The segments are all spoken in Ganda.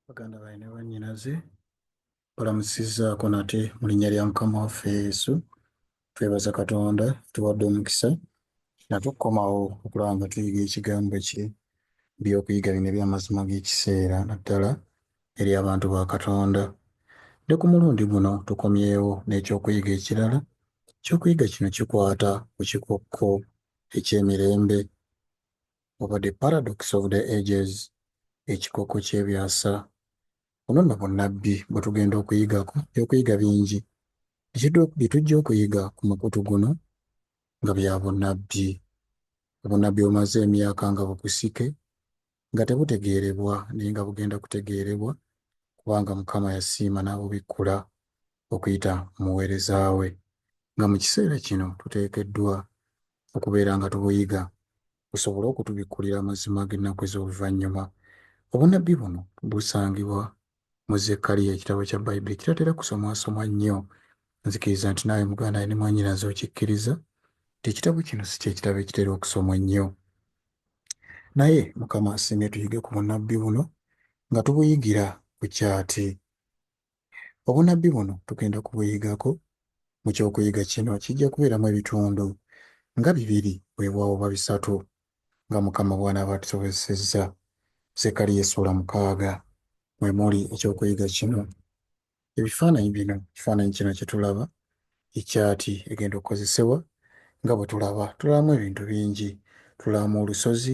baganda baye ne bannyinaze balamusizaako nate mu linnya lya mukama waffe yesu twebaza katonda tuwadde omukisa natukukomawo okulaba nga tuyiga ekigambo kye byokuyiga bino ebyamazima g'ekiseera naddala eri abantu ba katonda ne ku mulundi guno tukomyewo n'ekyokuyiga ekirala ekyokuyiga kino kikwata ku kikokko eky'emirembe oba the paradox of the ages ekikokko ky'ebyasa Buno nno bunnabbi bwe tugenda okuyigako ebyokuyiga bingi bye tujja okuyiga ku mukutu guno nga bya bunnabbi. Obunnabbi bumaze emyaka nga bukusike nga tebutegeerebwa naye nga bugenda kutegeerebwa kubanga Mukama yasiima n'abubikkula okuyita mu muweereza we nga mu kiseera kino tuteekeddwa okubeera nga tubuyiga busobole okutubikkulira amazima g'ennaku ez'oluvannyuma. Obunnabbi buno busangibwa mu Zekkaliya, ekitabo kya Bayibuli ekitatera kusomwasomwa nnyo. Nzikiriza nti naawe muganda wange ne mwannyinaze okikkiriza nti ekitabo kino si kye kitabo ekitera okusomwa ennyo. Naye Mukama asiimye tuyige ku bunnabbi buno nga tubuyigira ku kyati. Obunabbi buno tugenda kubuyigako mu ky'okuyiga kino kijja kubeeramu ebitundu nga bibiri weewaawo oba bisatu nga Mukama bw'anaaba atusobozesezza. Zekkaliya essuula mukaaga mwe muli eky'okuyiga kino. Ebifaananyi bino ekifaananyi kino kye tulaba ekyati egenda okukozesebwa nga bwe tulaba tulabamu ebintu bingi tulabamu olusozi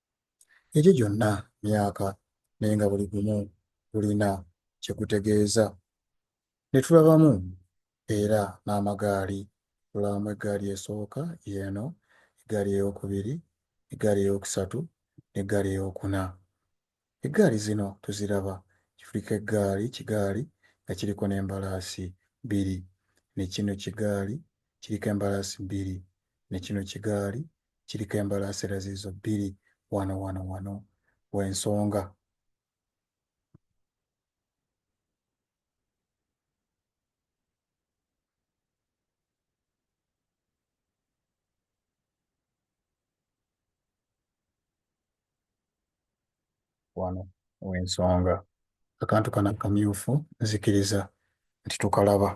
Egyo gyonna myaka naye nga buli gumu gulina kye gutegeeza. Ne tulabamu era n'amagaali. Tulabamu eggaali esooka y'eno, eggaali eyookubiri, eggaali eyookusatu n'eggaali eyookuna. Eggaali zino tuziraba, kifulika eggaali kigaali nga kiriko n'embalaasi bbiri, ne kino kigaali kiriko embalaasi bbiri, ne kino kigaali kiriko embalaasi era ziizo bbiri. Wano, wano, wano w'ensonga. wano wensonga akantu kana kamyufu nzikiriza nti tukalaba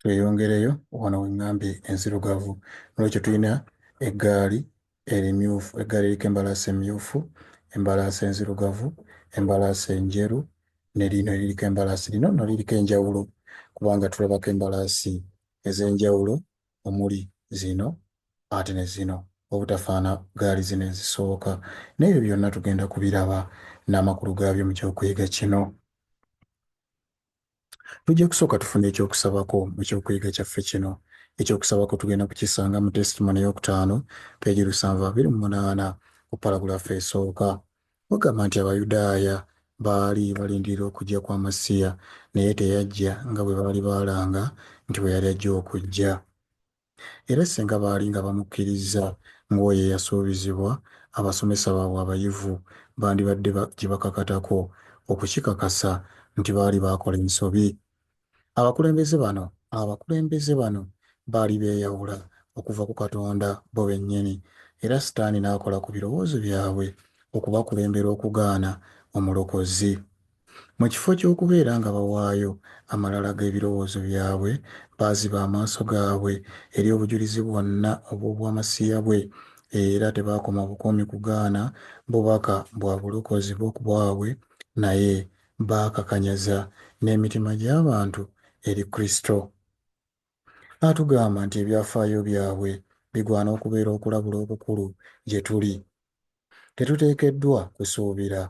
tweyongereyo wano wengambye enzirugavu nolwekyo tulina eggaali erimyufu eggaali eriko embalaasi emyufu embalaasi enzirugavu embalaasi enjeru nelino eririko embalaasi lino no liriko enjawulo kubanga tulabako embalaasi ez'enjawulo omuli zino Ate ne zino obutafaana gaali zino ezisooka. Naye ebyo byonna tugenda kubiraba n'amakulu gaabyo mu ky'okuyiga kino. Tujja kusooka tufune eky'okusabako mu ky'okuyiga kyaffe kino. Eky'okusabako tugenda kukisanga mu Testimony ey'okutaano, peegi lusanvu abiri mu munaana, ku paragulaafu esooka. Bagamba nti Abayudaaya baali balindirira okujja kwa Masiya, naye teyajja nga bwe baali baalanga nti bwe yali ajja okujja. Era singa baali nga bamukkirizza ng'oyo eyasuubizibwa, abasomesa baabwe abayivu bandibadde bakibakakatako okukikakasa nti baali baakola ensobi. Abakulembeze bano, abakulembeze bano baali beeyawula okuva ku Katonda bo bennyini, era Sitaani n'akola ku birowoozo byabwe okubakulembera okugaana Omulokozi. Mu kifo ky'okubeera nga bawaayo amalala g'ebirowoozo byabwe, baaziba amaaso gaabwe eri obujulizi bwonna obw'obwamasiya bwe, era tebaakoma bukomi kugaana bubaka bwa bulokozi bo ku bwabwe, naye baakakanyaza n'emitima gy'abantu eri Kristo. Atugamba nti ebyafaayo byabwe bigwana okubeera okulabula okukulu gye tuli. Tetuteekeddwa kusuubira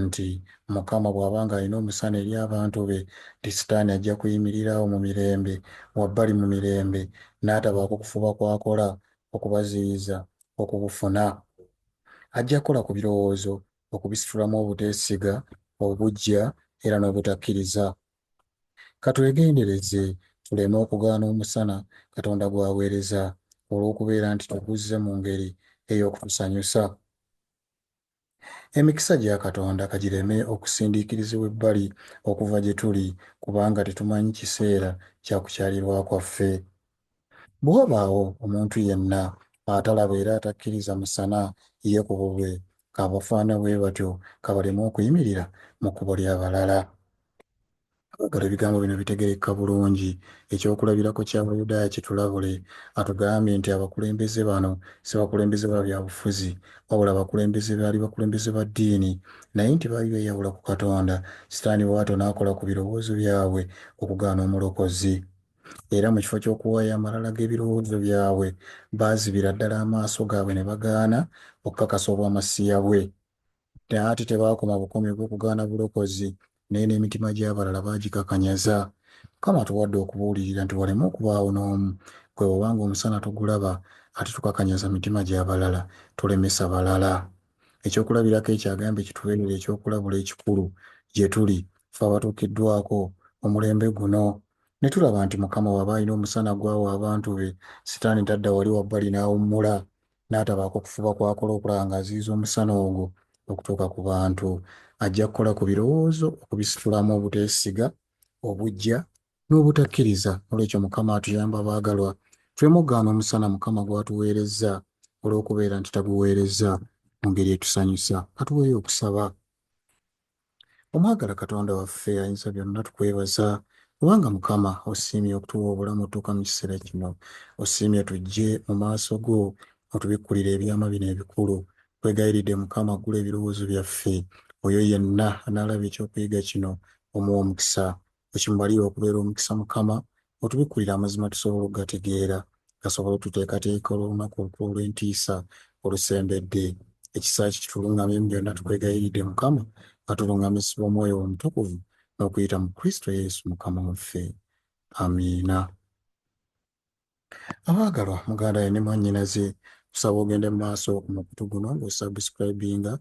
nti Mukama bw'aba ng'alina omusana eri abantu be, nti Sitaani ajja kuyimirira awo mu mirembe, wabbali mu mirembe, n'atabaako kufuba kw'akola okubaziyiza okubufuna. Ajja kukola ku birowoozo okubisitulamu obuteesiga, obuggya, era n'obutakkiriza. Ka twegendereze tuleme okugaana omusana Katonda gw'aweereza olw'okubeera nti tuguzze mu ngeri ey'okutusanyusa. Emikisa gya Katonda ka gireme okusindiikirizibwa ebbali okuva gye tuli kubanga tetumanyi kiseera kya kukyalirwa kwaffe. Bwe wabaawo omuntu yenna atalaba era atakkiriza musana, ye ku bubwe ka bafaana bwe batyo ka baleme okuyimirira mu kkubo lya balala. Abaagalwa, ebigambo bino bitegerekka bulungi. Eky'okulabirako ky'Abayudaaya kitulabule. Atugambye nti abakulembeze bano si bakulembeze ba bya bufuzi, wabula bakulembeze baali bakulembeze ba ddiini, naye nti baali beeyawula ku Katonda, Sitaani bw'atyo n'akola ku birowoozo byabwe okugaana Omulokozi. era mu kifo ky'okuwaayo amalala g'ebirowoozo byabwe, baazibira ddala amaaso gaabwe ne bagaana okukakasa Obwamasiya bwe. Naye ate tebaakoma bukomi ku kugaana bulokozi, naye n'emitima gy'abalala baagikakanyaza. Mukama atuwadde okubuulirira nti waleme okubaawo n'omu gwe bw'oba ng'omusana togulaba ate tukakanyaza mitima gya balala, tulemesa balala. Ekyokulabirako ekyo agambye kitubeerere ekyokulabula ekikulu gye tuli, ffe abatuukiddwako omulembe guno. Ne tulaba nti Mukama bw'aba alina omusana gw'awa abantu be, Sitaani tadda wali wabbali n'awummula, n'atabaako kufuba kw'akola okulaba ng'aziyiza omusana ogwo okutuuka ku bantu. Ajja kukola ku birowoozo okubisitulamu obuteesiga, obuggya, n'obutakkiriza. N'olwekyo Mukama atuyambe abaagalwa, tuleme okugaana omusana Mukama gw'atuweerezza olw'okubeera nti taguweerezza mu ngeri etusanyusa. Ka tuweeyo okusaba. Omwagala Katonda waffe ayinza byonna tukwebaza kubanga Mukama osiimye okutuwa obulamu otuuka mu kiseera kino. Osiimye tujje mu maaso go otubikkulire ebyama bino ebikulu. Nkwegayiridde Mukama aggule ebirowoozo byaffe. Oyo yenna anaalaba eky'okuyiga kino omuwe omukisa. Wekimubalira okubeera omukisa Mukama otubikkulira amazima tusobole okugategeera gasobole otuteekateeka olw'olunaku olukulu olw'entiisa olusembedde. Ekisa kye kitulungamye mu byonna tukwegayiridde Mukama nga tulungamizibwa omwoyo wo omutukuvu n'okuyita mu Kristo Yesu Mukama waffe. Amiina. Abaagalwa muganda we ne mwannyinaze kusaba ogende mu maaso ku mukutu guno ng'osubscribinga,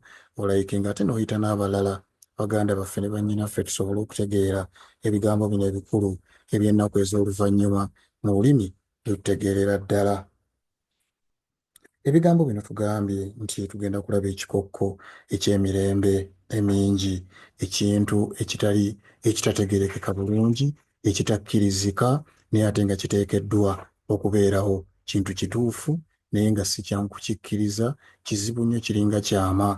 olayikinga ate n'oyita n'abalala baganda baffe ne bannyinaffe tusobole okutegeera ebigambo bino ebikulu eby'ennaku ez'oluvannyuma mu lulimi lwe tutegeerera ddala. Ebigambo bino tugambye nti tugenda kulaba ekikokko eky'emirembe emingi, ekintu ekitali ekitategeerekeka bulungi, ekitakkirizika naye ate nga kiteekeddwa okubeerawo. Kintu kituufu naye nga si kyangu kukikkiriza, kizibu nnyo kiringa kyama.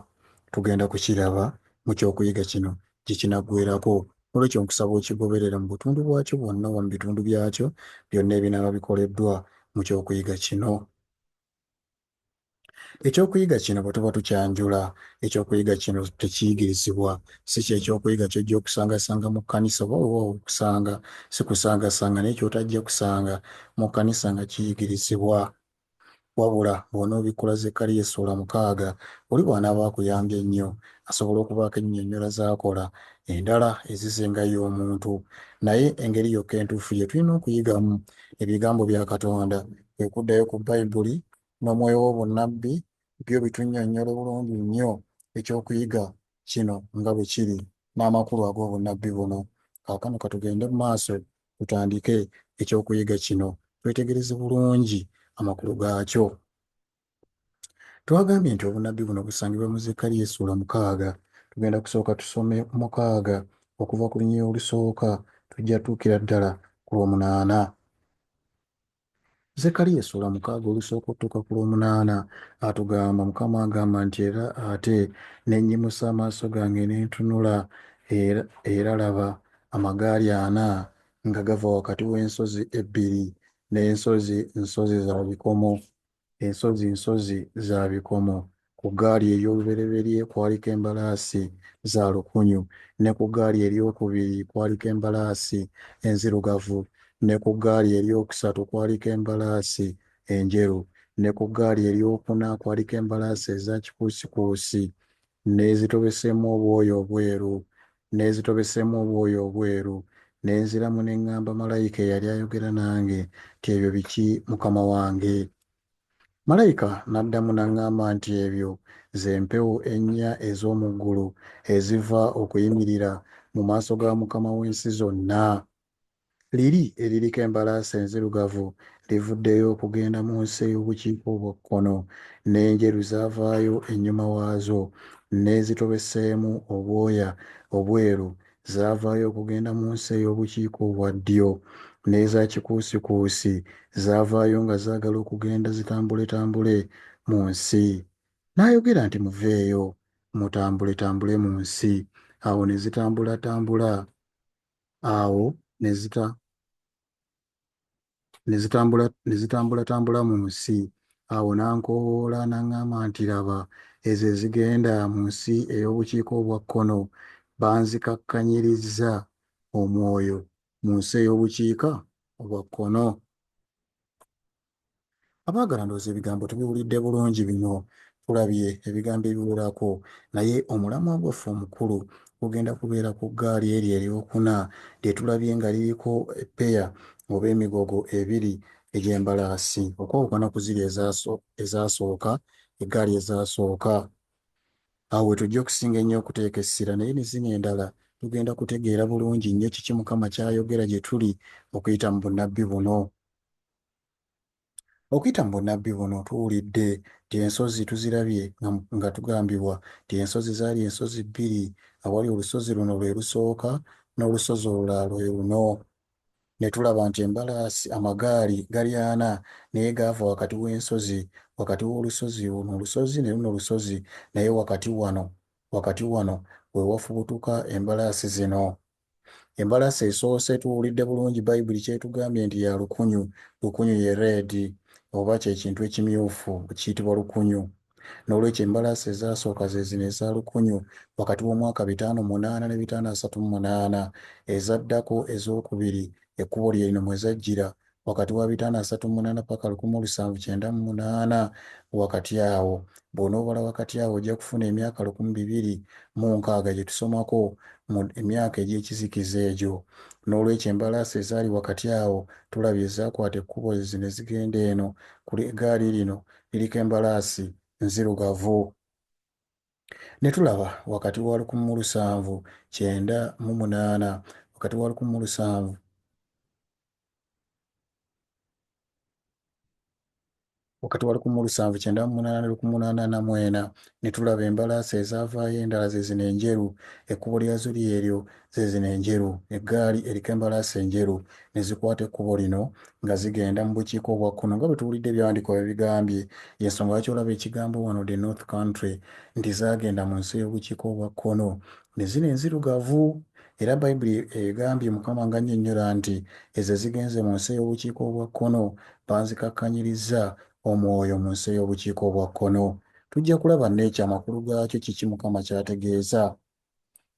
Tugenda kukiraba mu ky'okuyiga kino gye kinaggweerako N'olwekyo nkusaba okigoberere mu butundu bwakyo bwonna oba mu bitundu byakyo byonna ebinaaba bikoleddwa mu ky'okuyiga kino. Eky'okuyiga kino bwe tuba tukyanjula, eky'okuyiga kino tekiyigirizibwa. Si kye ky'okuyiga ky'ojja okusangasanga mu kkanisa oba weewaawo okusanga. Si kusangasanga naye ky'otajja kusanga mu kkanisa nga kiyigirizibwa. Wabula bw'onoobikkula Zekkaliya essuula mukaaga, oli bw'anaaba akuyambye ennyo, asobola okubaako ennyinnyonnyola z'akola endala ezizinga ye omuntu. Naye engeri yokka entuufu gye tulina okuyigamu Ebigambo bya Katonda, kwe kuddayo ku Bayibuli n'omwoyo w'obunnabbi. Byo bitunnyonnyola bulungi nnyo eky'okuyiga kino nga bwe kiri n'amakulu ag'obunnabbi buno. Kaakano ka tugende mu maaso Tutandike eky'okuyiga kino twetegereze bulungi amakulu gaakyo. Twagambye nti obunnabbi buno busangibwa mu Zekkaliya essuula mukaaga. Tugenda kusooka tusome mukaaga okuva ku lunyiriri olusooka, tujja tuukira ddala ku lwomunaana. Zekariya essula mukaaga olusooka otuuka ku lw'omunaana atugamba Mukama agamba nti era ate ne nnyimusa amaaso gange ne ntunula, era, era laba, amagaali ana nga gava wakati w'ensozi ebbiri, n'ensozi nsozi za bikomo. Ensozi nsozi za bikomo. Ku ggaali ey'olubereberye kwaliko embalaasi za lukunyu, ne ku ggaali ery'okubiri kwaliko embalaasi enzirugavu, ne ku ggaali ery'okusatu kwaliko embalaasi enjeru, ne ku ggaali ery'okuna kwaliko embalaasi eza kikuusikuusi. Nneezitobeseemu obwoya obweru, nneezitobeseemu obwoya obweru, ne nziramu ne ŋŋamba malayika eyali ayogera nange nti, Ebyo biki, mukama wange? Malayika n'addamu n'aŋŋamba nti, Ebyo ze mpewo ennya ez'omu ggulu eziva okuyimirira mu maaso ga Mukama w'ensi zonna. Liri eririko embalaasi enzirugavu livuddeyo okugenda mu nsi ey'obukiika obwa kkono, n'enjeru zaavaayo ennyuma waazo, n'ezitobeseemu obwoya obweru zaavaayo okugenda mu nsi ey'obukiika obwa ddyo, n'eza kikuusikuusi zaavaayo nga zaagala okugenda zitambuletambule mu nsi. N'ayogera nti, Muveeyo, mutambuletambule mu nsi. Awo ne zitambulatambula. awo nezita nezitambula nezitambulatambula mu nsi awo n'ankowoola n'aŋŋamba nti laba ezo ezigenda mu nsi ey'obukiika obwa kkono banzikakkanyirizza omwoyo mu nsi ey'obukiika obwa kkono Abaagala ndowooza ebigambo tubiwulidde bulungi bino tulabye ebigambo ebiwerako naye omulamwa gwaffe omukulu gugenda kubeera ku ggaali eryo eryokuna lye tulabye nga liriko eppeya oba emigogo ebiri egy'embalaasi okwawukana ku ziri ezaasooka eggaali ezaasooka. Awo we tujja okusinga ennyo okuteeka essira naye ne zino endala tugenda kutegeera bulungi nnyo kiki Mukama ky'ayogera gye tuli okuyita mu bunnabbi buno. Okuyita mu bunnabbi buno tuwulidde nti ensozi tuzirabye nga tugambibwa nti ensozi zaali ensozi bbiri awali olusozi luno lwe lusooka n'olusozi olulala lwe luno. Ne tulaba nti embalaasi, amagaali, gali ana naye gaava wakati w'ensozi, wakati w'olusozi, oluno olusozi ne luno lusozi, naye wakati wano, wakati wano we wafubutuka embalaasi zino. Embalasi esoose tuwulidde bulungi Bayibuli ky'etugambye nti ya lukunyu. Lukunyu ye reedi, oba kye kintu ekimyufu. Kiyitibwa lukunyu. N'olwekyo embalasi ezaasooka ze zino eza lukunyu, wakati w'omwaka bitaano munaana ne bitaano asatu mu munaana. Ezaddako, ez'okubiri, ekkubo lye lino mwe zajjira, wakati wa bitaano asatu munaana paka lukumi olusanvu kyenda mu munaana wakati awo bw'onoobala wakati awo ojja kufuna emyaka lukumi bibiri mu nkaaga gye tusomako mu emyaka egy'ekizikiza egyo n'olwekyo embalaasi ezaali wakati awo tulabye ezaakwata ekkubo ezi ne zigenda eno ku egaali lino liriko embalaasi nzirugavu ne tulaba wakati wa lukumi mu lusanvu kyenda mu munaana wakati wa lukumi mu lusanvu wakati wa lukumu lusanvu kyenda mu munaana ne lukumu munaana na mwena ne tulaba embalaasi ezaavaayo endala ze zino enjeru ekkubo lyazo lyeryo ze zino enjeru eggaali eriko embalaasi enjeru ne zikwata ekkubo lino nga zigenda mu bukiika obwa kkono nga bwe tuwulidde ebyawandiikibwa bwe bigambye y'ensonga lwaki olaba ekigambo wano the north country nti zaagenda mu nsi ey'obukiika obwa kkono ne zino enzirugavu Era Bayibuli egambye, Mukama ng'annyonnyola nti, Ezo ezigenze mu nsi ey'obukiika obwa kkono, banzikakkanyirizza omwoyo mu nsi ey'obukiika obwa kkono. Tujja kulaba n'ekyo amakulu gaakyo kiki Mukama ky'ategeeza.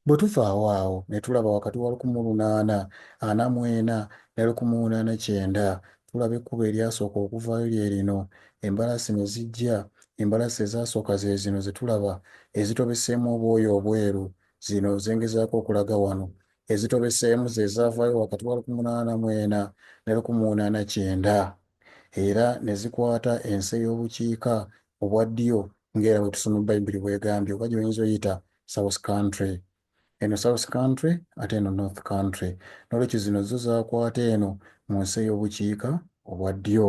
Bwe tuvaawo awo ne tulaba wakati wa lukumu lunaana ana mu ena ne lukumu una ne kyenda, tulaba ekkubo eryasooka okuvaayo lye lino, embalaasi ne zijja, embalaasi ezaasooka ze zino ze tulaba, ezitobeseemu obwoya obweru, Zino ze ngezaako okulaga wano. Ezitobeseemu ze zaavaayo wakati wa lukumi mu ana mu ena ne lukumi mu ana kyenda era ne zikwata ensi ey'obukiika obwa ddyo ng'era bwe tusoma Bayibuli bw'egambye oba gy'oyinza oyita South Country. Eno South Country ate eno North Country. N'olwekyo zino zo zaakwata eno mu nsi ey'obukiika obwa ddyo.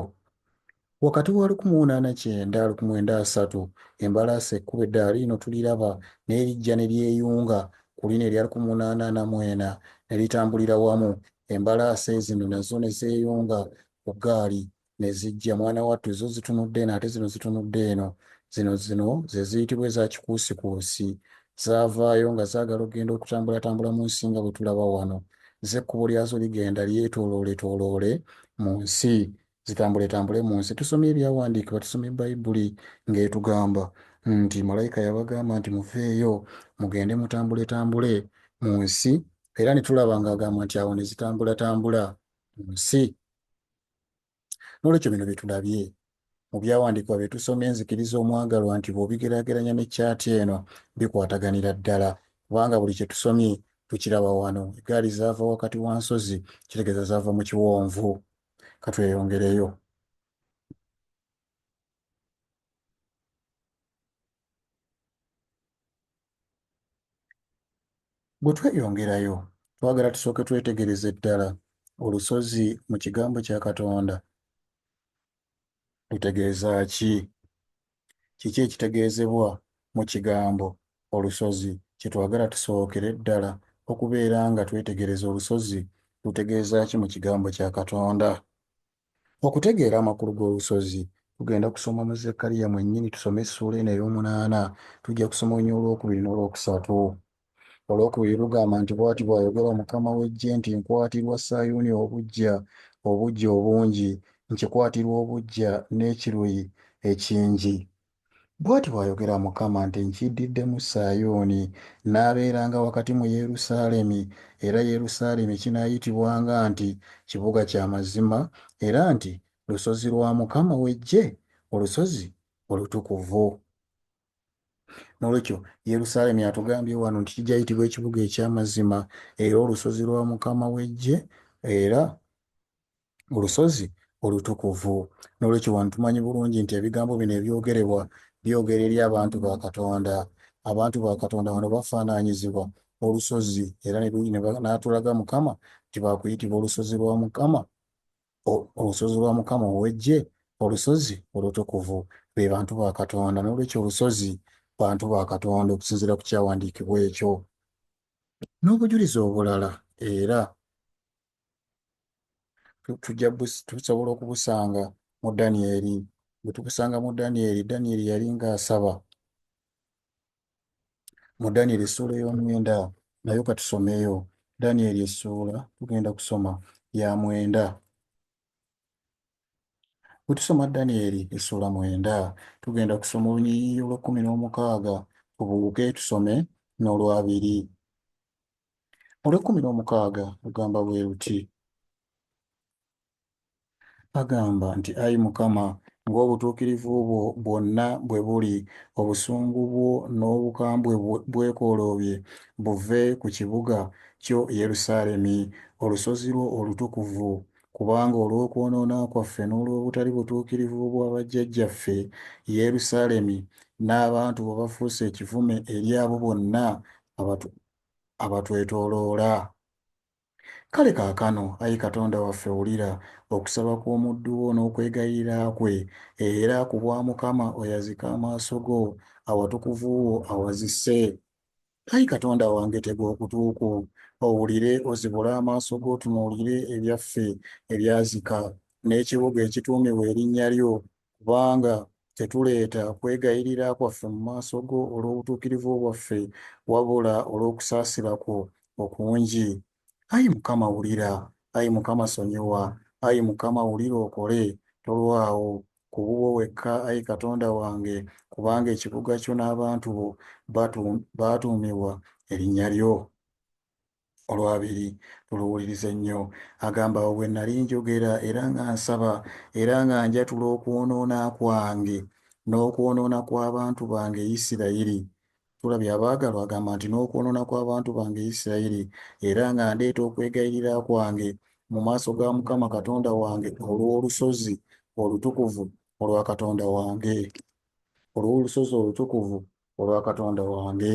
Wakati wa lukumi una na kyenda lukumi wenda asatu, embalaasi ekkubo eddaala lino tuliraba, naye lijja ne lyeyunga ku lino erya lukumi una na na mwena, ne litambulira wamu, embalaasi ezino nazo ne zeeyunga ku ggaali, ne zijja. Mwana wattu, zo zitunudde eno, ate zino zitunudde eno. Zino, zino ze ziyitibwa eza kikuusikuusi. Zaavaayo, nga zaagala okugenda okutambulatambula mu nsi, nga bwe tulaba wano. Zo ekkubo lyazo ligenda lyetoolooletooloole mu nsi. Zitambuletambule mu nsi. Tusomye Ebyawandiikibwa, tusomye Bayibuli ng'etugamba nti malayika yabagamba nti muveeyo mugende mutambuletambule mu nsi, era ne tulaba ng'agamba nti awo ne zitambulatambula mu nsi. N'olwekyo bino bye tulabye mu byawandiikibwa bye tusomye nzikiriza omwagalwa nti bw'obigeraageranya ne kyati eno bikwataganira ddala kubanga buli kye tusomye tukiraba wano. Eggaali zaava wakati wa nsozi, kitegeeza zaava mu kiwonvu. katweyongereyo bwe tweyongerayo twagala tusooke twetegereze ddala olusozi mu kigambo kya katonda lutegeeza ki? Kiki ekitegeezebwa mu kigambo olusozi? Kye twagala tusookere ddala okubeera nga twetegereza olusozi lutegeeza ki mu kigambo kya Katonda. Okutegeera amakulu g'olusozi, tugenda kusoma mu Zekkaliya mwennyini, tusome essuula eno ey'omunaana, tujja kusoma olunyiriri olwokubiri n'olwokusatu. Olwokubiri lugamba nti, Bw'ati bw'ayogera Mukama w'eggye nti, Nkwatirwa Sayuuni obuggya, obuggya obungi, nkikwatirwa obuggya n'ekiruyi ekingi. Bw'ati bw'ayogera Mukama nti, Nkiddiddemu Sayuuni, nnaabeeranga wakati mu Yerusaalemi, era Yerusaalemi kinaayitibwanga nti, Kibuga kya Mazima, era nti, Lusozi lwa Mukama w'eggye, Olusozi Olutukuvu. nolwekyo yerusaalemi atugambye wano nti kijayitibwa ekibuga ekyamazima era olusozi lwa mukama wejje era olusozi olutukuvu nolwekyo wano tumanyi bulungi nti ebigambo bino ebyogerebwa byogera eri abantu ba katonda abantu ba katonda wano bafaananyizibwa olusozi era natulaga mukama nti bakuyitibwa olusozi lwa mukama olusozi lwa Mukama ow'Eggye, olusozi olutukuvu, be bantu ba Katonda. N'olwekyo olusozi bantu ba Katonda okusinziira ku kyawandiikibwa ekyo. N'obujulizi obulala era tujja tusobola okubusanga mu Danyeri. Bwe tubusanga mu Danyeri, Danyeri yali ng'asaba mu Daniel essuula ey'omwenda nayo katusomeyo Daniel essuula tugenda kusoma ya mwenda bwe tusoma Daniel essuula mwenda tugenda kusoma olunyiriri olw'ekkumi n'omukaaga tubuuke tusome n'olwabiri olw'ekkumi n'omukaaga lugamba bwe luti Bagamba nti, Ayi Mukama, ng'obutuukirivu bwo bwonna bwe buli, obusungu bwo n'obukambwe bwo bwekoloobye buve ku kibuga kyo Yerusaalemi, olusozi lwo olutukuvu. Kubanga olw'okwonoona kwaffe n'olw'obutali butuukirivu bwa bajjajjaffe, Yerusaalemi n'abantu bo bafuuse ekivume eri abo bonna abatwetooloola. Kale kaakano, ayi Katonda waffe, wulira okusaba kw'omuddu wo n'okwegayirira kwe, era, ku bwa Mukama, oyazike amaaso go awatukuvu wo awazise. Ayi Katonda wange, tega okutu kwo owulire, ozibule amaaso go otunuulire ebyaffe ebyazika, n'ekibuga ekituumibwa erinnya lyo, Kubanga tetuleeta kwegayirira kwaffe mu maaso go olw'obutuukirivu bwaffe, wabula olw'okusaasira kwo okungi. Ayi Mukama, wulira. Ayi Mukama, sonyiwa. Ayi Mukama, wulira okole. Tolwawo. Ku bubwo wekka, ayi Katonda wange, kubanga ekibuga kyo n'abantu bo baatuumibwa erinnya lyo. olwabiri tuluwulirize nnyo agamba awo bwe nali njogera era nga nsaba era nga njatula okwonoona kwange n'okwonoona kw'abantu bange isirayiri tulabye abaagalwa agamba nti n'okwonoona kw'abantu bange isirayiri era nga ndeeta okwegayirira kwange mu maaso ga mukama katonda wange olw'olusozi olutukuvu olwa katonda wange olw'olusozi olutukuvu olwa katonda wange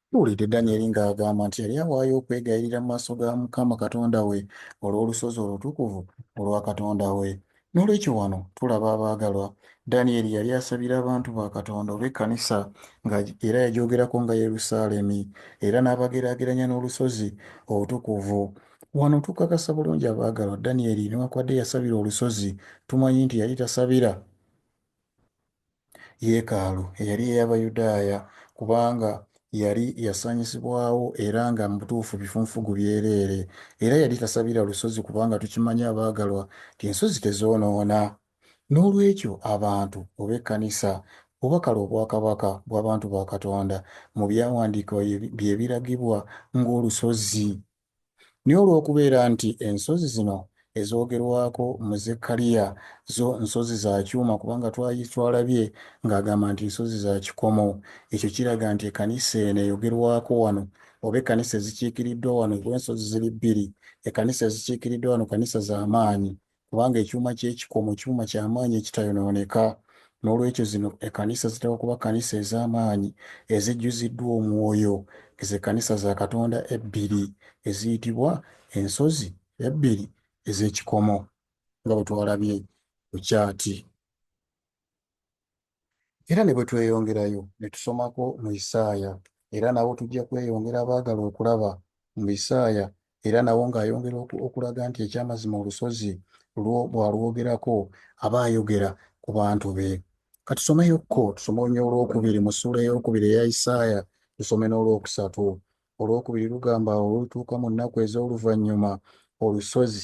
Tuwulidde Danyeri ng'agamba nti yali awaayo okwegayirira mu maaso ga Mukama Katonda we olw'olusozi olutukuvu olwa Katonda we. N'olwekyo wano tulaba, abaagalwa, Danyeri yali asabira abantu ba Katonda oba ekkanisa, nga, era yagyogerako nga Yerusaalemi, era n'abageraageranya n'olusozi outukuvu. Wano tukakasa bulungi, abaagalwa, Danyeri, newakubadde yasabira olusozi, tumanyi nti yali tasabira. yeekaalu eyali ey'Abayudaaya, kubanga yali yasaanyizibwawo era nga mu butuufu bifunfugu byereere. Era yali tasabira lusozi, kubanga tukimanyi, abaagalwa, nti ensozi tezoonoona. N'olwekyo, abantu, oba ekkanisa, oba kale obwakabaka bw'abantu ba Katonda, mu Byawandiikibwa bye biragibwa ng'olusozi. Naye olw'okubeera nti ensozi zino ezoogerwako mu Zekkaliya zo nsozi za kyuma, kubanga twali twalabye ng'agamba nti nsozi za kikomo, ekyo kiraga nti ekkanisa eno eyogerwako wano, oba ekkanisa ezikiikiriddwa wano, oba ensozi ziri bbiri, ekkanisa ezikiikiriddwa wano kkanisa za maanyi, kubanga ekyuma ky'ekikomo kyuma kya maanyi ekitayonooneka. N'olwekyo zino ekkanisa zitera okuba kkanisa ez'amaanyi ezijjuziddwa omwoyo. Ezo ekkanisa za Katonda ebbiri eziyitibwa ensozi ebbiri ez'ekikomo nga bwe twalabye ku kyaati. Era ne bwe tweyongerayo ne tusomako mu Isaaya, era nawo tujja kweyongera abaagala okulaba mu Isaaya, era nawo ng'ayongera okulaga nti eky'amazima olusozi lwo bw'alwogerako aba ayogera ku bantu be. Ka tusomeyokko, tusome olwokubiri mu ssuula ey'okubiri eya Isaaya, tusome n'olwokusatu. Olwokubiri lugamba awo olutuuka mu nnaku ez'oluvannyuma olusozi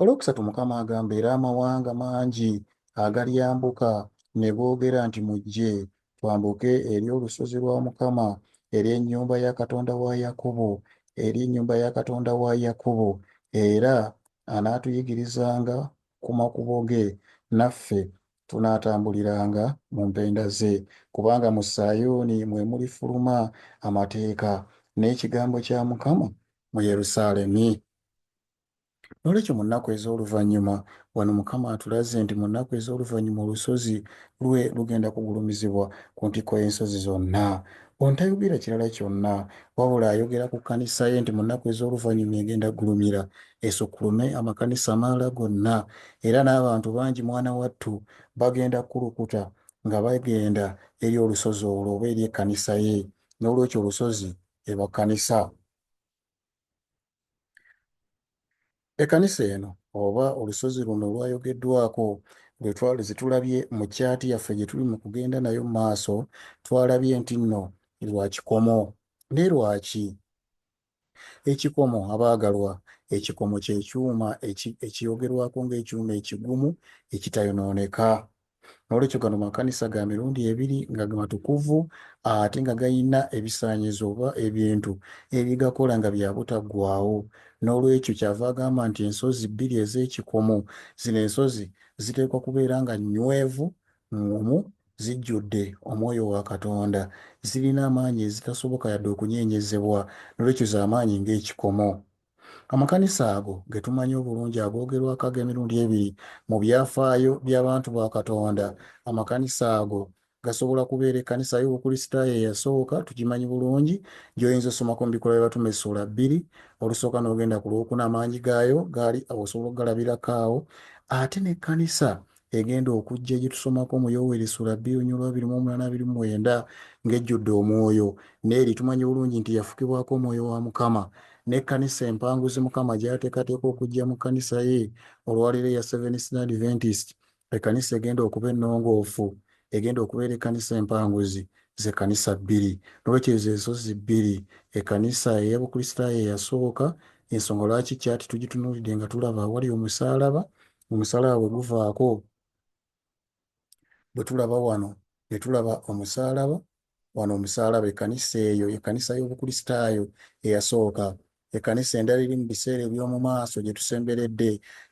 Olwokusatu Mukama agamba era amawanga mangi agalyambuka ne googera nti mujje twambuke eri olusozi lwa Mukama, eri ennyumba ya Katonda wa Yakobo, eri ennyumba ya Katonda wa Yakobo, era anaatuyigirizanga ku makubo ge, naffe tunaatambuliranga mu mpenda ze. Kubanga mu Sayuuni mwe mulifuluma amateeka, n'ekigambo kya Mukama mu Yerusaalemi. N'olwekyo mu nnaku ez'oluvannyuma, wano Mukama atulaze nti mu nnaku ez'oluvannyuma olusozi lwe lugenda kugulumizibwa ku ntikko y'ensozi zonna. Ono tayogera kirala kyonna wabula ayogera ku kkanisa ye nti mu nnaku ez'oluvannyuma egenda kugulumira esukkulume amakanisa amalala gonna era n'abantu bangi mwana wattu bagenda kukulukuta nga bagenda eri olusozi olwo oba eri ekkanisa ye. N'olwekyo olusozi eba kkanisa. Ekkanisa eno oba olusozi luno lwayogeddwako lwe twali zitulabye mu kyaati yaffe gye tuli mu kugenda nayo mu maaso, twalabye nti nno lwa kikomo. Naye lwaki? Ekikomo, abaagalwa, ekikomo kye kyuma ekiyogerwako ng'ekyuma ekigumu ekitayonooneka. N'olwekyo gano makanisa ga mirundi ebiri nga matukuvu ate nga galina ebisaanyizo oba ebintu ebigakola nga bya butaggwaawo. N'olwekyo kyava agamba nti ensozi bbiri ez'ekikomo, zino ensozi ziteekwa kubeera nga nnywevu, ŋŋumu, zijjudde Omwoyo wa Katonda, zirina amaanyi ezitasoboka yadde okunyeenyezebwa, n'olwekyo za maanyi ng'ekikomo. Amakanisa ago ge tumanyi obulungi agoogerwako ag'emirundi ebiri mu byafaayo by'abantu ba Katonda, amakanisa ago gasobola kubeera ekkanisa y'Obukristaayo eyasooka, tugimanyi bulungi, gy'oyinza okusomako mu Bikolwa by'Abatume essuula bbiri, olusooka n'ogenda ku lw'okuna, amaanyi gaayo gaali awo osobola okugalabirako awo, ate n'ekkanisa egenda okujja gye tusomako mu Yoweri essula bbiri olunyiriri lwa abiri mu omunaana abiri mu mwenda ng'ejjudde omwoyo, n'eri tumanyi bulungi nti yafukibwako omwoyo wa Mukama, n'ekkanisa empanguzi Mukama gy'ateekateeka okujja mu kkanisa ye olwaleero eya Seventh-day Adventist, ekkanisa egenda okuba ennongoofu, egenda okubeera ekkanisa empanguzi, ze kkanisa bbiri. N'olwekyo ezo ensozi bbiri, ekkanisa eya Bukristaayo eyasooka, y'ensonga lwaki ccaati tugitunuulidde nga tulaba awali omusaalaba, omusalaa bwe guvaako bwe tulaba wano ne tulaba omusaalaba wano omusaalaba ekkanisa eyo ekkanisa y'obukristaayo eyasooka ekkanisa endala eri mu biseera eby'omu maaso gye tusemberedde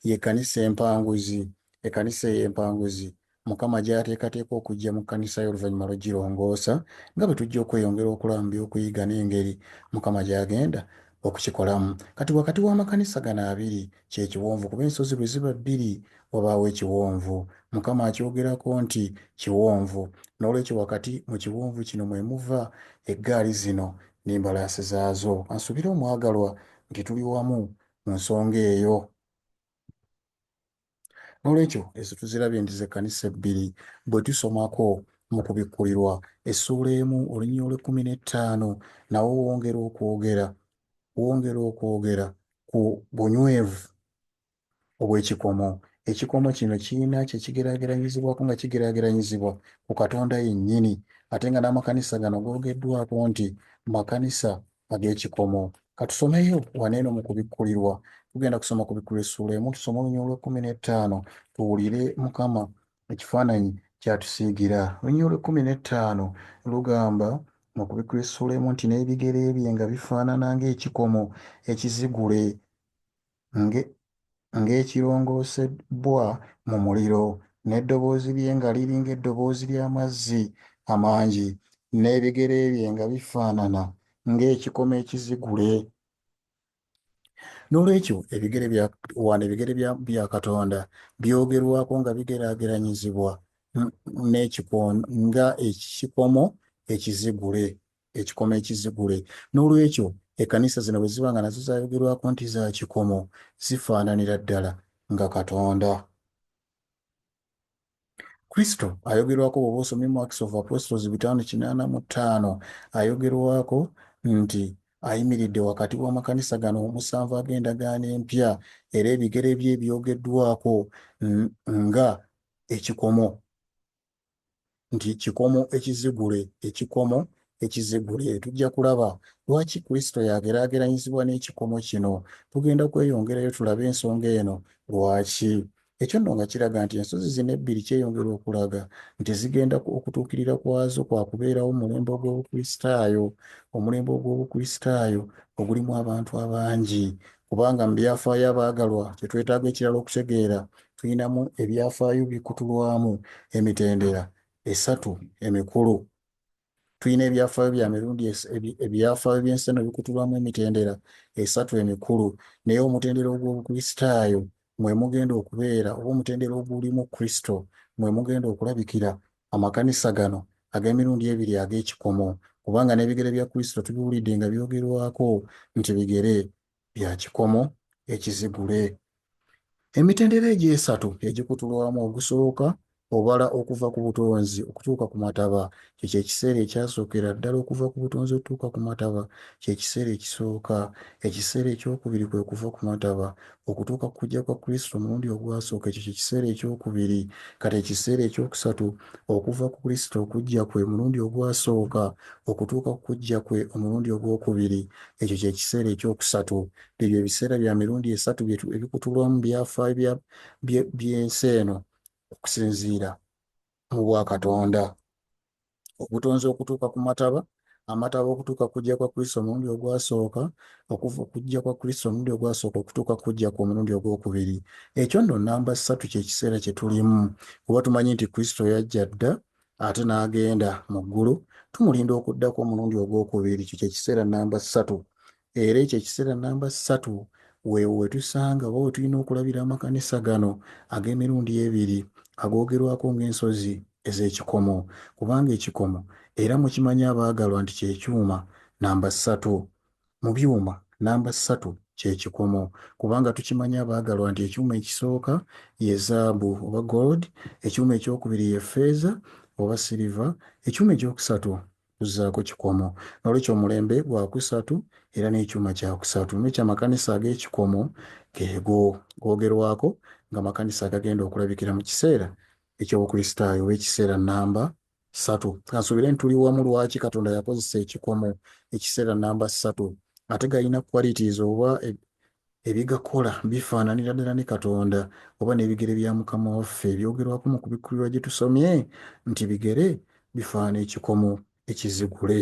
y'ekkanisa empanguzi ekkanisa eyo empanguzi Mukama gy'ateekateeka okujja mu kkanisa ye oluvannyuma lw'okugirongoosa, nga bwe tujja okweyongera okulaba mu by'okuyiga n'engeri Mukama gy'agenda okukikolamu. Kati wakati w'amakanisa gano abiri, kye kiwonvu, kuba ensozi bwe ziba bbiri, wabaawo ekiwonvu. Mukama akyogerako nti kiwonvu. N'olwekyo wakati mu kiwonvu kino mwe muva eggaali zino n'embalaasi zaazo. Ka nsuubire, omwagalwa, nti tuli wamu mu nsonga eyo. N'olwekyo ezo tuzirabye nti z'ekkanisa ebbiri. Bwe tusomako mu Kubikkulirwa, essuula emu olunyiriri olw'ekkumi n'ettaano, nawo wongera okwogera, wongera okwogera ku bunywevu obw'ekikomo. Ekikomo kino kirina kye kigeraageranyizibwako nga kigeraageranyizibwa ku Katonda yennyini, ate nga n'amakanisa gano googeddwako nti makanisa ag'ekikomo. Ka tusomeyo wano eno mu kubikkulirwa. Tugenda kusoma kubikkulirwa essuula emu, tusome olunyiriri olw'ekkumi n'ettaano, tuwulire Mukama ekifaananyi ky'atusiigira. Olunyiriri olw'ekkumi n'ettaano lugamba mu kubikkulirwa essuula emu nti n'ebigere bye nga bifaanana ng'ekikomo ekizigule. ng'ekirongoosebbwa mu muliro, n'eddoboozi lye nga liri ng'eddoboozi ly'amazzi amangi, n'ebigere bye nga bifaanana ng'ekikomo ekizigule. N'olwekyo, ebigere bya wano ebigere bya Katonda byogerwako nga bigeraageranyizibwa n'ekikomo nga ekikomo ekizigule. ekikomo ekizigule. N'olwekyo, ekkanisa zino bwe ziba nga nazo zayogerwako nti za kikomo, zifaananira ddala nga Katonda. Kristo ayogerwako bw'oba osomye mu Acts of Apostles bitaano kinaana mu ttaano, ayogerwako nti ayimiridde wakati w'amakanisa gano omusanvu ag'endagaano empya, era ebigere bye byogeddwako nga ekikomo. nti kikomo ekizigule ekikomo ekizigule tujja kulaba lwaki kristo yageraageranyizibwa n'ekikomo kino tugenda kweyongerayo tulabe ensonga eno lwaki ekyo nno nga kiraga nti ensozi zino ebbiri kyeyongera okulaga nti zigenda okutuukirira kwazo kwa kubeerawo omulembe ogw'obukristaayo omulembe ogw'obukristaayo ogulimu abantu abangi Kubanga mu byafaayo abaagalwa, kye twetaaga ekirala okutegeera, tulinamu ebyafaayo bikutulwamu emitendera esatu emikulu. Tulina ebyafaayo bya mirundi es, ebi- ebyafaayo by'ensi eno bikutulwamu emitendera esatu emikulu, naye omutendera ogw'Obukristaayo mwe mugenda okubeera, oba omutendera ogulimu Kristo mwe mugenda okulabikira Amakanisa gano ag'emirundi ebiri ag'ekikomo, kubanga n'ebigere bya Kristo tubiwulidde nga byogerwako nti bigere bya kikomo ekizigule. Emitendera egyo esatu egikutulwamu ogusooka obala okuva ku butonzi okutuuka ku mataba. Ekyo kye kiseera ekyasookera ddala okuva ku butonzi okutuuka ku mataba. Kye kiseera ekisooka. Ekiseera eky'okubiri kwe kuva ku mataba. Okutuuka ku kujja kwa Kristo omulundi ogwasooka, ekyo kye kiseera eky'okubiri. Kati ekiseera eky'okusatu, okuva ku Kristo okujja kwe omulundi ogwasooka okutuuka ku kujja kwe omulundi ogw'okubiri, ekyo kye kiseera eky'okusatu. Ebyo ebiseera bya mirundi esatu bye ebikutulwa mu byafaayo bya, bye, by'ensi eno, okusinziira. mu bwa Katonda. Obutonzi okutuuka ku mataba, amataba okutuuka ku kujja kwa Kristo omulundi ogwasooka, okuva okujja kwa Kristo omulundi ogwasooka okutuuka ku kujja kwe omulundi ogw'okubiri. Ekyo nno nnamba ssatu kye kiseera kye tulimu, kuba tumanyi nti Kristo yajja dda ate n'agenda mu ggulu. Tumulinda okuddako omulundi ogw'okubiri. Ekyo kye kiseera nnamba ssatu. era ekyo ekiseera namba ssatu weewo we tusanga oba we tulina okulabira amakanisa gano ag'emirundi ebiri agoogerwako ng'ensozi ez'ekikomo, kubanga ekikomo, era mukimanyi abaagalwa nti kye kyuma namba ssatu. Mu byuma, namba ssatu kye kikomo, kubanga tukimanyi abaagalwa nti ekyuma ekisooka ye zaabu oba gold, ekyuma eky'okubiri ye ffeeza oba siliva, ekyuma eky'okusatu kuzzaako kikomo. N'olwekyo omulembe gwa kusatu era n'ekyuma kya kusatu. N'olwekyo amakanisa ag'ekikomo geego googerwako nga makanisa agagenda okulabikira mu kiseera eky'obukristaayo oba ekiseera nnamba satu. Kansuubire nti tuli wamu lwaki Katonda yakozesa ekikomo, ekiseera nnamba satu. Ate galina qualities oba Ebigakola bifaananira ddala ne Katonda oba n'ebigere bya Mukama waffe ebyogerwako mu kubikkulirwa gye tusomye nti bigere bifaana ekikomo ekizigule.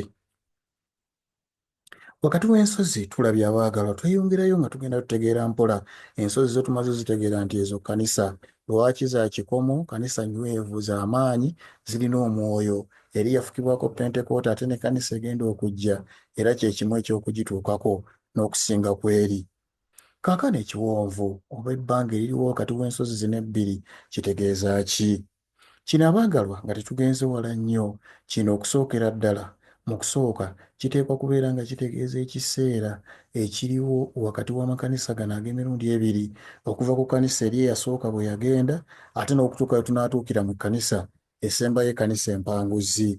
Wakati w'ensozi tulabye abaagalwa tweyongerayo nga tugenda tutegeera mpola ensozi zo tumaze zitegeera nti ezo kkanisa. Lwaki za kikomo? Kkanisa nywevu, za maanyi, zirina omwoyo. Eri yafukibwako Pentekoota ate ne kkanisa egenda okujja era kye kimu eky'okugituukako. n'okusinga ku eri. Kaakano ekiwonvu, oba ebbanga eririwo wakati w'ensozi zino ebbiri, kitegeeza ki? Kino, abaagalwa, nga tetugenze wala nnyo, kino, okusookera ddala, mu kusooka, kiteekwa kubeera nga kitegeeza ekiseera ekiriwo wakati w'amakanisa gano ag'emirundi ebiri, okuva ku kkanisa eri eyasooka bwe yagenda, ate n'okutuuka lwe tunaatuukira mu kkanisa esembayo, ekkanisa empanguzi.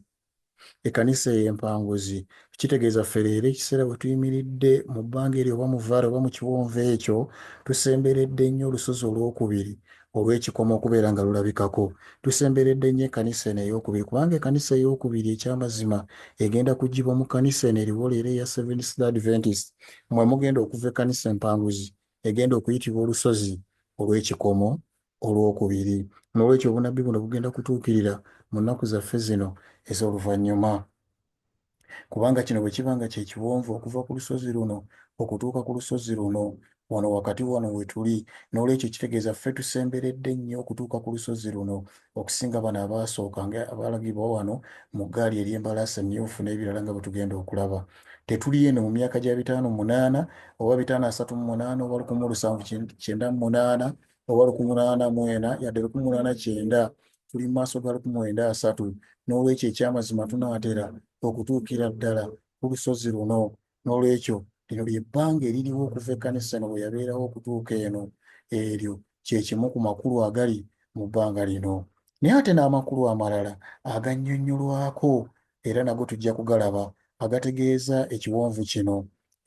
ekkanisa eyo empanguzi kitegeeza ffe leero ekiseera we tuyimiridde mu bbanga eryo oba mu vaala oba mu kiwonvu ekyo tusemberedde nnyo olusozi olw'okubiri olw'ekikomo okubeera nga lulabikako tusemberedde nnyo ekkanisa eno ey'okubiri kubanga ekkanisa ey'okubiri eky'amazima egenda kugibwa mu kkanisa eno eriwo leero eya seventh day adventist mwe mugenda okuva ekkanisa empanguzi egenda okuyitibwa olusozi olw'ekikomo olw'okubiri. N'olwekyo obunabbi buno bugenda kutuukirira mu nnaku zaffe zino ez'oluvannyuma. Kubanga kino bwe kiba nga kye kiwonvu okuva ku lusozi luno okutuuka ku lusozi luno, wano wakati wano we tuli, n'olwekyo kitegeeza ffe tusemberedde nnyo okutuuka ku lusozi luno okusinga bano abaasooka nga abalagibwa wano mu ggaali ery'embalaasi emmyufu n'ebirala nga bwe tugenda okulaba. Tetuli eno mu myaka gya bitaano munaana, oba bitaano asatu mu munaana, oba lukumi mu lusanvu kyenda mu munaana, oba lukumi lunaana mu ena yadde lukumi lunaana kyenda tuli mu maaso ga lukumi mwenda asatu n'olwekyo ekyamazima tunaatera okutuukira ddala ku lusozi luno n'olwekyo lino lyebbanga eririwo okuva ekkanisa eno bwe yabeerawo okutuuka eno eryo kye kimu ku makulu agali mu bbanga lino naye ate n'amakulu amalala agannyonnyolwako era nago tujja kugalaba agategeeza ekiwonvu kino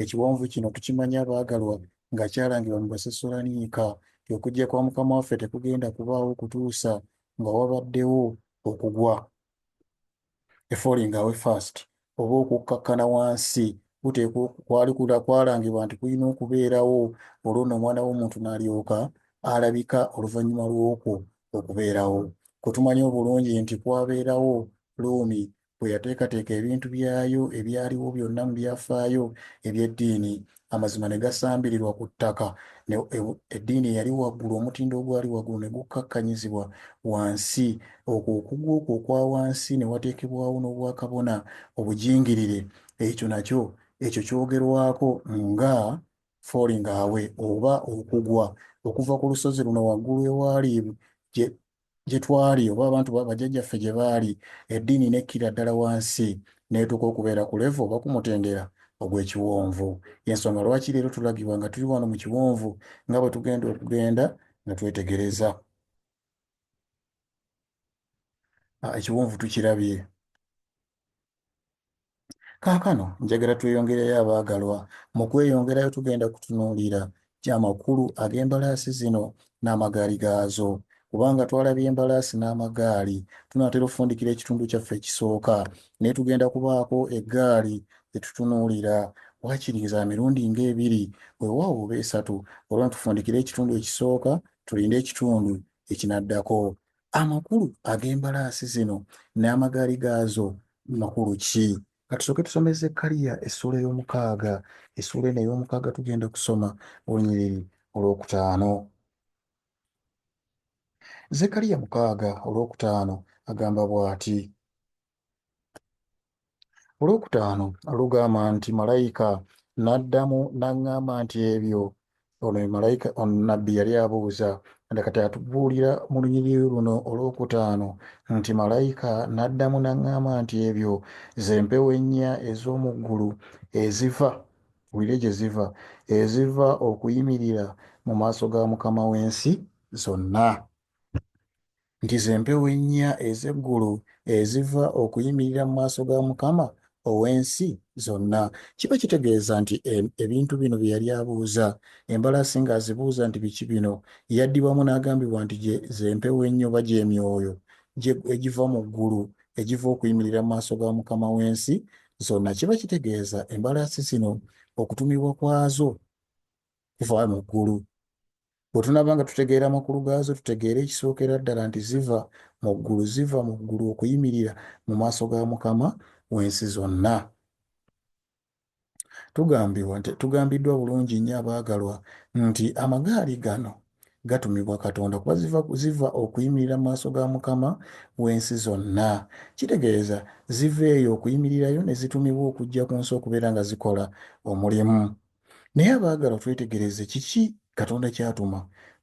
ekiwonvu kino tukimanya abaagalwa nga kyalangirwa mu Basesoloniika, okujja kwa Mukama waffe tekugenda kubaawo kutuusa nga wabaddewo okugwa, a falling away first, oba okukkakkana wansi, kuteekwa kwali kwalangibwa nti kulina okubeerawo, olwo nno Omwana w'omuntu n'alyoka alabika oluvannyuma lw'okwo okubeerawo. Kwe tumanyi obulungi nti kwabeerawo Luumi bwe yateekateeka ebintu byayo ebyaliwo byonna mu byafaayo eby'eddiini, amazima ne gasambirirwa ku ttaka, ne, e, eddiini eyali waggulu, omutindo ogwali waggulu ne gukkakkanyizibwa wansi, okwo okugwa okwo okwa wansi, ne wateekebwawo n'obwakabona obujingirire. Ekyo nakyo, ekyo kyogerwako nga falling away, oba okugwa okuva ku lusozi luno waggulu ewaali gye twali oba abantu ba bajjajjaffe gye baali, eddiini n'ekkirira ddala wansi n'etuuka okubeera ku levo oba ku mutendera ogw'ekiwonvu. Y'ensonga lwaki leero tulagibwa nga tuli wano mu kiwonvu nga bwe tugenda okugenda nga twetegereza. Ekiwonvu tukirabye. Kaakano njagala tweyongereyo abaagalwa. Mu kweyongerayo tugenda kutunuulira amakulu ag'embalaasi zino n'amagaali gaazo. Kubanga twalabye embalaasi n'amagaali, tunaatera okufundikira ekitundu kyaffe ekisooka. Naye tugenda kubaako eggaali ze tutunuulira, waakiri za mirundi ng'ebiri, weewaawo oba esatu. Olwo nno tufundikire ekitundu ekisooka, tulinde ekitundu ekinaddako. Amakulu ag'embalaasi zino n'amagaali gaazo makulu ki? Ka tusooke tusome Zekkaliya essuula ey'omukaaga. Essuula eno ey'omukaaga tugenda kusoma olunyiriri olwokutaano. Zekkaliya mukaaga olwokutaano agamba bw'ati. olwokutaano lugamba nti malayika n'addamu n'aŋŋamba nti ebyo ono ye malayika ono nabbi yali abuuza nda kati atubuulira mu lunyiriri luno olwokutaano nti malayika n'addamu n'aŋŋamba nti ebyo ze mpewo ennya ez'omu ggulu eziva wulire gye ziva eziva okuyimirira mu maaso ga mukama w'ensi zonna nti ze mpewo ennya ez'eggulu eziva okuyimirira mu maaso ga Mukama ow'ensi zonna. Kiba kitegeeza nti e, ebintu bino bye yali abuuza, embalaasi ng'azibuuza nti biki bino, yaddibwamu n'agambibwa nti gye ze mpewo ennyo oba gy'emyoyo egiva mu ggulu egiva okuyimirira mu maaso ga Mukama w'ensi zonna. Kiba kitegeeza embalaasi zino okutumibwa kwazo kuva mu ggulu. Bwe tunaaba nga tutegeera amakulu gaazo, tutegeere ekisookera ddala nti ziva mu ggulu, ziva mu ggulu okuyimirira mu maaso ga Mukama w'ensi zonna. Tugambibwa nti tugambiddwa bulungi nnyo abaagalwa nti amagaali gano gatumibwa Katonda kuba ziva, ziva okuyimirira mu maaso ga Mukama w'ensi zonna. Kitegeeza ziva eyo okuyimirirayo ne zitumibwa okujja ku nsi okubeera nga zikola omulimu. Naye abaagalwa, twetegereze kiki Katonda ky'atuma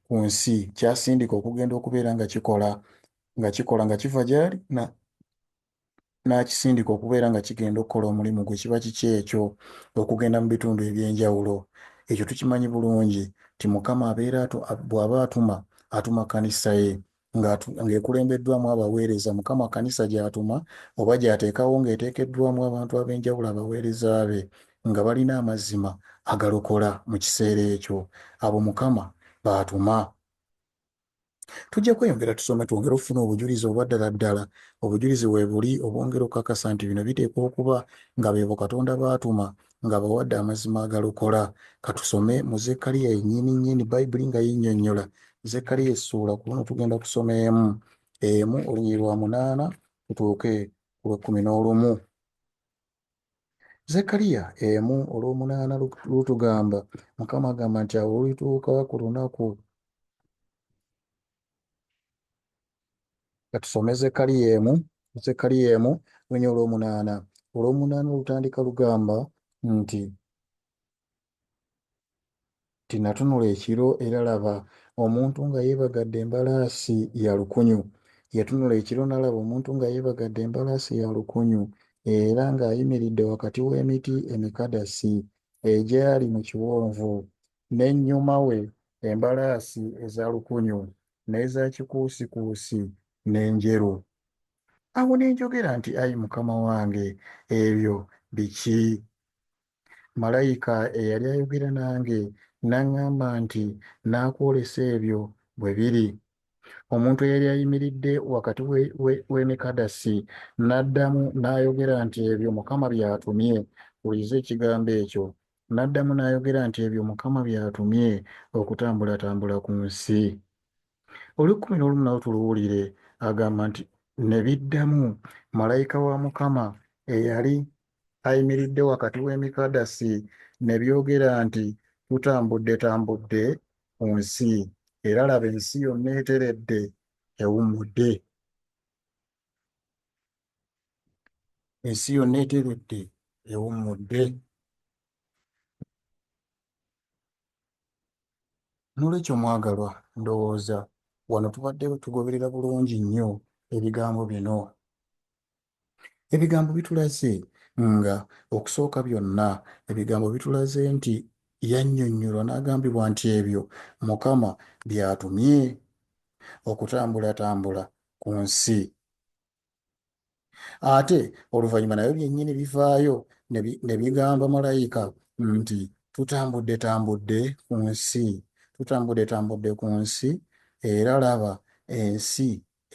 ku nsi, ky'asindika okugenda okubeera nga kikola, nga kikola, nga kiva gy'ali na n'akisindika okubeera nga kigenda okukola omulimu gwe. Kiba kiki ekyo? Okugenda mu bitundu eby'enjawulo. Ekyo tukimanyi bulungi nti Mukama abeera bw'aba atuma, atuma kkanisa ye. nga ng'ekulembeddwamu abaweereza Mukama kkanisa gy'atuma oba gy'ateekawo ng'eteekeddwamu abantu ab'enjawulo abaweereza be nga balina amazima agalokola mu kiseera ekyo abo Mukama baatuma. Tujja kweyongera tusome twongere okufuna obujulizi obwa ddala ddala obujulizi weebuli obwongera okukakasa nti bino biteekwa okuba nga beebo Katonda baatuma ng'abawadde amazima agalokola. Ka tusome mu Zekkaliya yennyini nnyini, Bayibuli nga yennyonnyola. Zekkaliya essuula, ku luno tugenda kusoma emu emu olunyiriri lwa munaana tutuuke ku lw'ekkumi n'olumu. Zekkaliya emu olw'omunaana lutugamba, Mukama agamba nti awo lulituuka ku lunaku katusome Zekkaliya emu Zekkaliya emu lunya olw'omunaana olw'omunaana olutandika lugamba nti tinatunula ekiro era laba omuntu nga yeebagadde embalaasi ya lukunyu yatunula ekiro n'alaba omuntu nga yeebagadde embalaasi ya lukunyu era ng'ayimiridde wakati w'emiti emikadasi egyali mu kiwonvu n'ennyuma we embalaasi eza lukunyu, n'eza kikuusikuusi, n'enjeru. Awo ne njogera nti, Ayi Mukama wange, ebyo biki? Malayika eyali ayogera nange n'aŋŋamba nti, Nnaakwolesa ebyo bwe biri. Omuntu eyali ayimiridde wakati w'emikadasi n'addamu n'ayogera nti, Ebyo Mukama by'atumye, wuliriza ekigambo ekyo, N'addamu n'ayogera nti ebyo Mukama by'atumye okutambulatambula ku nsi. Olw'ekkumi n'olumu nawo tuluwulire, agamba nti, Ne biddamu, malayika wa Mukama eyali ayimiridde wakati w'emikadasi ne byogera nti, Tutambuddetambudde ku nsi, era laba ensi yonna eteredde, ewummudde. ensi yonna eteredde ewummudde n'olwekyo mwagalwa ndowooza wano tubadde tugoberera bulungi nnyo ebigambo bino ebigambo bitulaze nga okusooka byonna ebigambo bitulaze nti yannyonnyolwa n'agambibwa nti ebyo mukama by'atumye okutambulatambula ku nsi ate oluvannyuma nabyo byennyini bivaayo ne bigamba malayika nti tutambudde tambudde ku nsi tutambudde tambudde ku nsi era laba ensi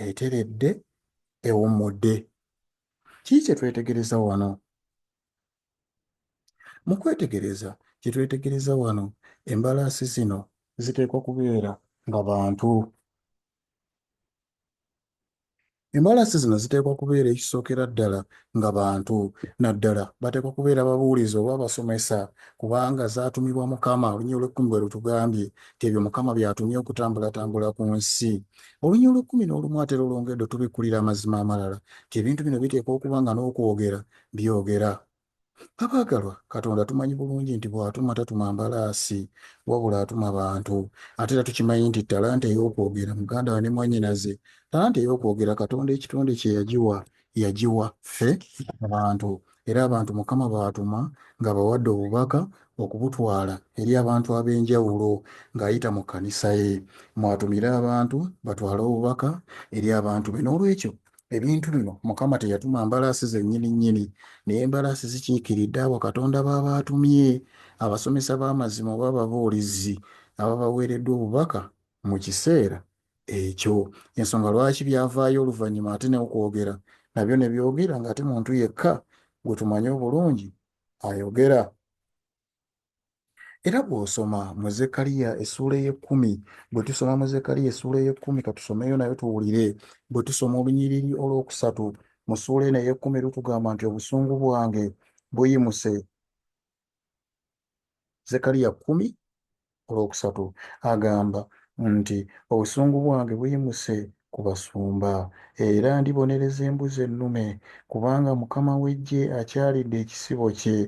eteredde ewummudde kii kye twetegereza wano mu kwetegereza kye twetegereza wano embalaasi zino ziteekwa kubeera nga bantu Embalasi zino ziteekwa kubeera ekisookera ddala nga bantu, naddala bateekwa kubeera babuulizi oba abasomesa, kubanga zaatumibwa Mukama. Olunyiriri olw'ekkumi bwe lutugambye nti ebyo Mukama by'atumye okutambulatambula ku nsi. Olunyiriri olw'ekkumi n'olumu ate lulongedde otubikkulira amazima amalala nti ebintu bino biteekwa okuba nga n'okwogera byogera. Abaagalwa, Katonda tumanyi bulungi nti bw'atuma tatuma mbalaasi, wabula atuma bantu. Ate era tukimanyi nti ttalanta ey'okwogera, muganda we ne mwannyinaze, ttalanta ey'okwogera Katonda ekitonde kye yagiwa, yagiwa ffe abantu. Era abantu Mukama b'atuma ng'abawadde obubaka okubutwala eri abantu ab'enjawulo ng'ayita mu kkanisa ye. Mw'atumira abantu batwale obubaka eri abantu be. N'olwekyo, ebintu bino mukama teyatuma mbalaasi zennyini nnyini naye embalaasi zikiikiridde abo katonda baaba atumye abasomesa b'amazima oba ababuulizi ababaweereddwa obubaka mu kiseera ekyo ensonga lwaki byavaayo oluvannyuma ate neokwogera nabyo ne byogera ng'ate muntu yekka gwe tumanyi obulungi ayogera Era bw'osoma mu Zekariya essuula ey'ekkumi, bwe tusoma mu Zekariya essuula ey'ekkumi, katusomeyo nayo tuwulire, bwe tusoma olunyiriri olw'okusatu mu ssuula eno ey'ekkumi lutugamba nti obusungu bwange buyimuse. Zekariya kkumi olwokusatu agamba nti, Obusungu bwange buyimuse ku basumba, era ndibonereza embuzi ennume, kubanga Mukama w'eggye akyalidde ekisibo kye,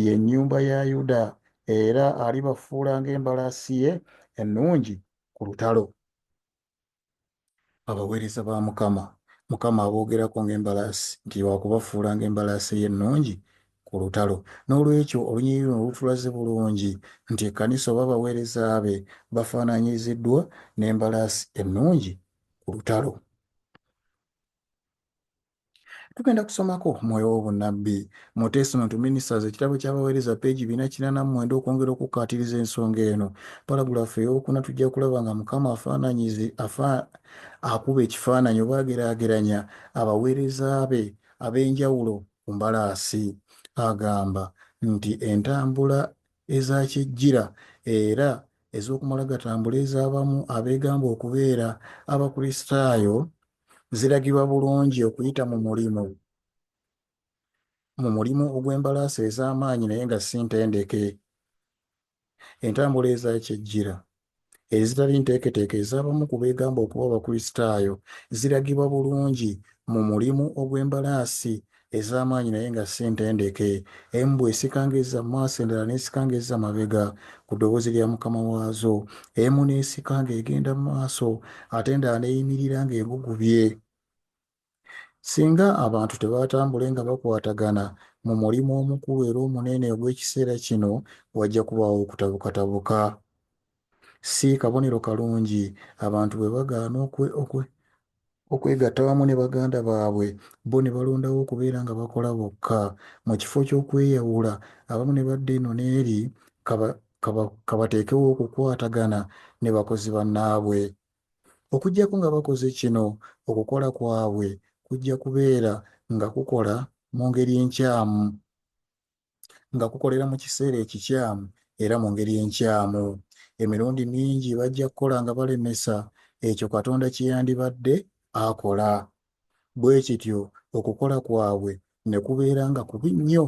ye nnyumba ya Yuda, era alibafuula ng'embalaasi ye ennungi ku lutalo. Abaweereza ba Mukama, Mukama aboogerako ng'embalaasi, nti wa kubafuula ng'embalaasi ye ennungi ku lutalo. N'olwekyo, olunyiriri luno lutulaze bulungi nti ekkanisa oba abaweereza be bafaananyiriziddwa n'embalaasi ennungi ku lutalo. tugenda kusomako omwoyo w'obunnabbi mu testament to ministers ekitabo ky'abaweereza peegi bina kinana mu mwenda okwongera okukkaatiriza ensonga eno paragulaafu ey'okuna tujja kulaba nga mukama afaananyizi afa akuba ekifaananyi oba ageraageranya abaweereza be ab'enjawulo ku mbalaasi agamba nti entambula ezakyejjira era ez'okumala gatambula ez'abamu abeegamba okubeera abakristaayo ziragibwa bulungi okuyita mu mulimu mu mulimu ogw'embalaasi ez'amaanyi naye nga si ntendeke, entambula eza kyejjira, ezitali nteeketeeke ez'abamu ku beegamba okuba Abakristaayo ziragibwa bulungi mu mulimu ogw'embalaasi ez'amaanyi naye nga si ntendeke. Embwa esika ng'ezza mu maaso, endala n'esika ng'ezza mabega ku ddoboozi lya mukama waazo. Emu n'esika ng'egenda mu maaso ate endala n'eyimirira ng'egugubye. Singa abantu tebaatambule nga bakwatagana mu mulimu omukulu era omunene ogw'ekiseera kino, wajja kubaawo okutabukatabuka. Si kabonero kalungi abantu bwe bagaana okwegatta wamu ne baganda baabwe, bo ne balondawo okubeera nga bakola bokka. Mu kifo ky'okweyawula, abamu ne badda eno n'eri, ka bateekewo okukwatagana ne bakozi bannaabwe. Okuggyako nga bakoze kino, okukola kwabwe kujja kubeera nga kukola mu ngeri enkyamu. nga kukolera mu kiseera ekikyamu era mu ngeri enkyamu. Emirundi mingi bajja kukola nga balemesa ekyo Katonda kye yandibadde akola. Bwe kityo, okukola kwabwe ne kubeera nga kubi nnyo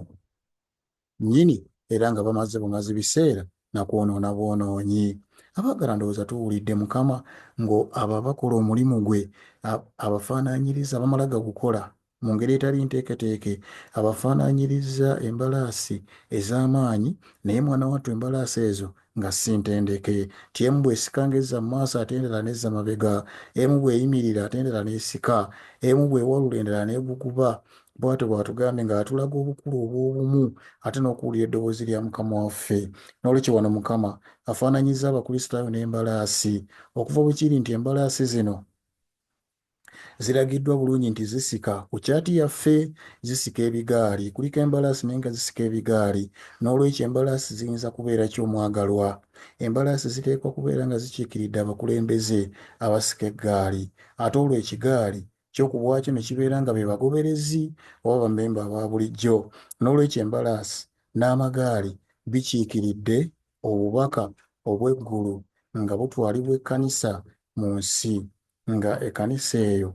nnyini era nga bamaze bumazi biseera na kwonoona bwonoonyi. Abaagala ndowooza tuwulidde Mukama ngo abo abakola omulimu gwe abafaanaanyiriza bamala gagukola mu ngeri etali nteeketeeke, abafaanaanyirizza embalaasi ez'amaanyi naye mwana wattu embalaasi ezo nga si ntendeke, nti emu bw'esika ng'ezza mu maaso ate endala n'ezza mabega, emu bw'eyimirira ate endala n'esika, emu bw'ewalula endala n'eguguba, bwatyo bw'atugambye ng'atulaga obukulu obw'obumu ate n'okuwulira eddoboozi lya Mukama waffe. N'olwekyo wano Mukama afaananyizza Abakristaayo n'embalaasi. Okuva bwe kiri nti embalaasi zino ziragiddwa bulungi nti zisika, ku kyati yaffe zisika ebigaali, kuliko embalaasi naye nga zisika ebigaali. N'olwekyo embalaasi ziyinza kubeera ki omwagalwa? Embalaasi ziteekwa kubeera nga zikiikiridde abakulembeze abasika eggaali. Ate olwo ekigaali kyo ku bwakyo ne kibeera nga be bagoberezi oba bamemba aba bulijjo. N'olwekyo embalaasi n'amagaali bikiikiridde obubaka obw'eggulu nga butwalibwa ekkanisa mu nsi, nga ekkanisa eyo,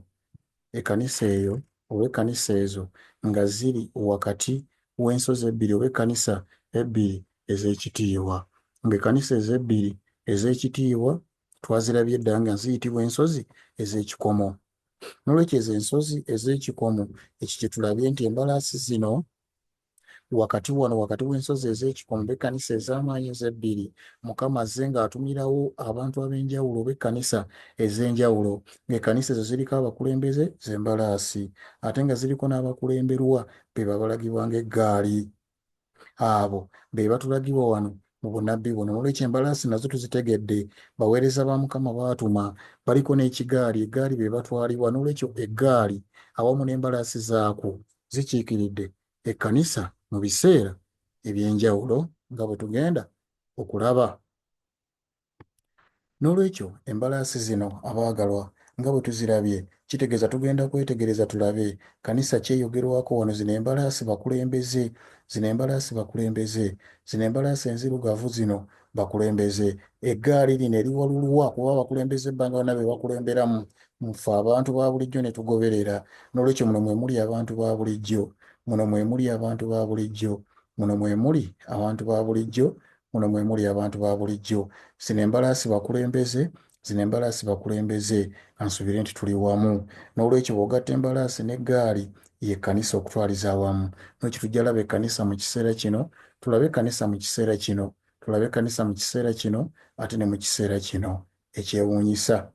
ekkanisa eyo oba ekkanisa ezo nga ziri wakati w'ensozi ebbiri oba ekkanisa ebbiri ez'ekitiibwa, nga ekkanisa ezo ebbiri ez'ekitiibwa twazirabye dda nga ziyitibwa ensozi ez'ekikomo. N'olwekyo ezo ensozi ez'ekikomo, ekyo kye tulabye nti embalaasi zino wakati wano, wakati w'ensozi ez'ekikomo, oba ekkanisa ez'amaanyi ezo ebbiri, Mukama azze ng'atumirawo abantu ab'enjawulo oba ekkanisa ez'enjawulo, ng'ekkanisa ezo ziriko abakulembeze, z'embalaasi, ate nga ziriko n'abakulemberwa be babalagibwa ng'eggaali. abo be batulagibwa wano mu bunabbi buno nolwekyo embalaasi nazo tuzitegedde baweereza ba mukama baatuma baliko n'ekigaali eggaali be batwalibwa nolwekyo eggaali awamu n'embalaasi zaakwo zikiikiridde ekkanisa mu biseera eby'enjawulo nga bwe tugenda okulaba N'olwekyo, embalaasi zino, abaagalwa, nga bwe tuzirabye, kitegeeza tugenda kwetegereza tulabe, kkanisa ki eyogerwako wano. Zino embalaasi bakulembeze. Zino embalaasi bakulembeze. Zino embalaasi enzirugavu zino bakulembeze. Eggaali lino eriwalulwa, kuba abakulembeze ba nga bonna be bakulemberamu, mu ffe abantu ba bulijjo ne tugoberera. N'olwekyo muno mwe muli abantu ba bulijjo. Muno mwe muli abantu ba bulijjo. Muno mwe muli abantu ba bulijjo, Muno mwe muli abantu ba bulijjo. Zino embalaasi bakulembeze, zino embalaasi bakulembeze. Ka nsubire nti tuli wamu. N'olwekyo bw'ogatta embalaasi n'eggaali, ye kkanisa okutwaliza awamu. N'olwekyo tujja laba ekkanisa mu kiseera kino, tulabe ekkanisa mu kiseera kino, tulabe ekkanisa mu kiseera kino, ate ne mu kiseera kino ekyewuunyisa.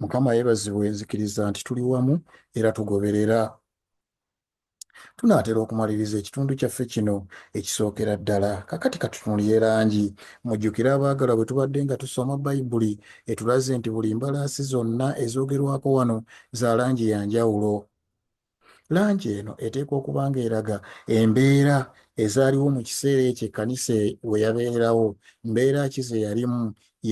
Mukama yebazibwe, nzikiriza nti tuli wamu era tugoberera. Tunaatera okumaliriza ekitundu kyaffe kino ekisookera ddala. Kaakati ka tutunuliye langi. Mujjukire, abaagalwa, bwe tubadde nga tusoma Bayibuli, etulaze nti buli mbalaasi zonna ezoogerwako wano za langi ya njawulo. Langi eno eteekwa okuba nga eraga embeera ezaaliwo mu kiseera ekyo ekkanisa e, we yabeererawo. Mbeera ki ze yalimu?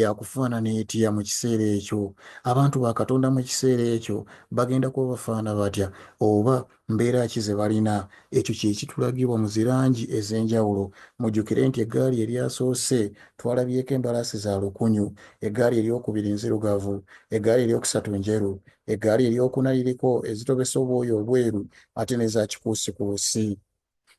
Yakufaanana etya mu kiseera ekyo? Abantu ba Katonda mu kiseera ekyo bagenda kuba bafaanana batya, oba mbeera ki ze balina? Ekyo kye kitulagibwa mu zi langi ez'enjawulo. Mujjukire nti eggaali eryasoose twalabyeko embalaasi za lukunyu, eggaali ery'okubiri nzirugavu, eggaali ery'okusatu njeru, eggaali ery'okuna liriko ezitobesa obwoya obweru ate n'eza kikuusikuusi.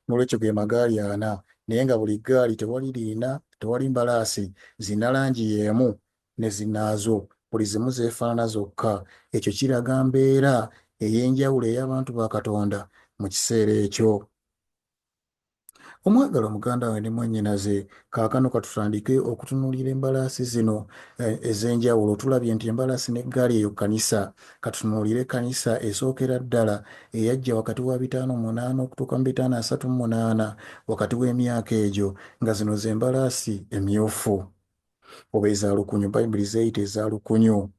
N'olwekyo ge magaali ana, naye nga buli ggaali tewali liina, tewali mbalaasi zirina langi y'emu ne zinnaazo, buli zimu zeefaanana zokka. Ekyo kiraga mbeera ey'enjawulo ey'abantu ba Katonda mu kiseera ekyo. Omwagalwa muganda wange ne mwannyinaze, Kaakano ka tutandike okutunuulira embalaasi zino eh, ez'enjawulo. Tulabye nti embalaasi n'eggaali eyo kkanisa. Ka tutunuulire ekkanisa esookera ddala eyajja wakati wa bitaano munaana okutuuka mu bitaano asatu mu munaana, wakati w'emyaka egyo, nga zino ze mbalaasi emmyufu oba eza lukunyu, Bayibuli z'eyita eza lukunyu.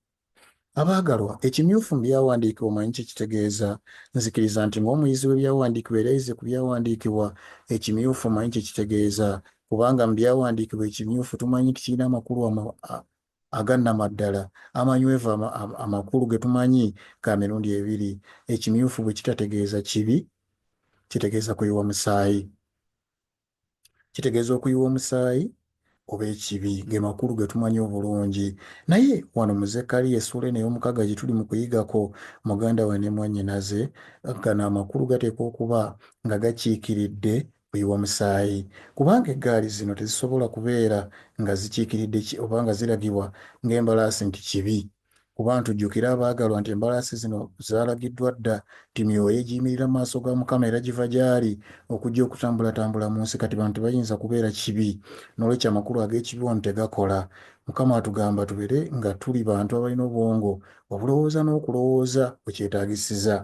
Abaagalwa, ekimyufu mu Byawandiikibwa omanyi kye kitegeeza? Nzikiriza nti ng'omuyizi w'Ebyawandiikibwa era ayize ku Byawandiikibwa, ekimyufu omanyi kye kitegeeza, kubanga mu Byawandiikibwa ekimyufu tumanyi nti kirina amakulu aga nnamaddala amanywevu amakulu ge tumanyi ga mirundi ebiri. Ekimyufu bwe kitategeeza kibi, kitegeeza kuyiwa musaayi. kitegeeza okuyiwa omusaayi oba ekibi ge makulu ge tumanyi obulungi naye wano mu zekkaliya essuula eno ey'omukaaga gye tuli mu kuyigako muganda we ne mwannyinaze gano amakulu gateekwa okuba nga gakiikiridde kuyiwa musaayi kubanga eggaali zino tezisobola kubeera nga zikiikiridde oba nga ziragibwa ng'embalaasi nti kibi Kuba ntujjukire abaagalwa nti embalaasi zino zaalagiddwa dda nti myoyo egiyimirira mu maaso ga Mukama era giva gy'ali okujja okutambulatambula mu nsi kati bano tebayinza kubeera kibi n'olwekyo amakulu ag'ekibi wano tegakola. Mukama atugamba tubeere nga tuli bantu abalina obwongo obulowooza n'okulowooza we kyetaagisiza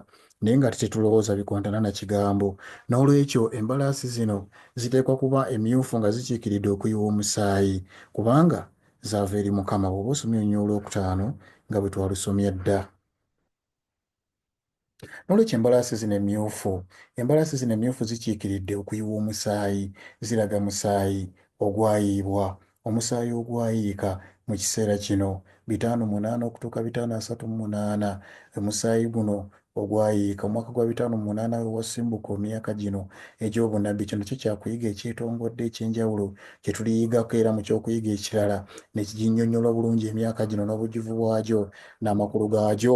naye ng'ate tetulowooza bikontana na kigambo. N'olwekyo embalaasi zino ziteekwa kuba emmyufu nga zikiikiridde okuyiwa omusaayi kubanga Zaava eri Mukama. Bw'oba osomye onyoo olwokutaano nga bwe twalusomye dda. N'olwekyo embalaasi zino emmyufu, embalaasi zino emmyufu zikiikiridde okuyiwa omusaayi, ziraga musaayi ogwayiibwa, omusaayi ogwayiika mu kiseera kino, bitaano munaana okutuuka bitaano asatu mu munaana. Omusaayi guno ogwayiika omwaka gwa bitaano mu munaana we wasimbuka omyaka gino egy'obunnabbi. Kino kye kya kuyiga ekyetongodde eky'enjawulo kye tuliyigako era mu ky'okuyiga ekirala ne kiginnyonnyola obulungi emyaka gino n'obujjuvu bwagyo n'amakulu gaagyo.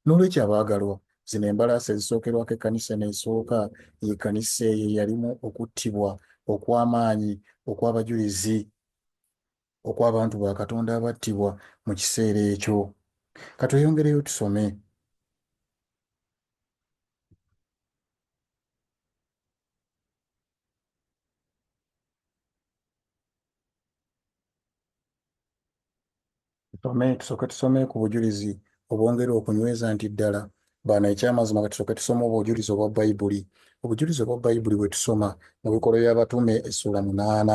N'olwekyo, abaagalwa, zino embalaasi ezisookerwako ekkanisa eno esooka ye kkanisa eyo eyalimu okuttibwa okw'amaanyi okw'abajulizi. okw'abantu ba Katonda abattibwa mu kiseera ekyo. Ka tweyongereyo tusome. Tusome, tusooke tusome ku bujulizi obwongera okunyweza nti ddala baana ekyamazima kati soke tusoma obujulizi obwa bayibuli obujulizi obwa bayibuli bwe tusoma mu bikolwa by'abatume essula munaana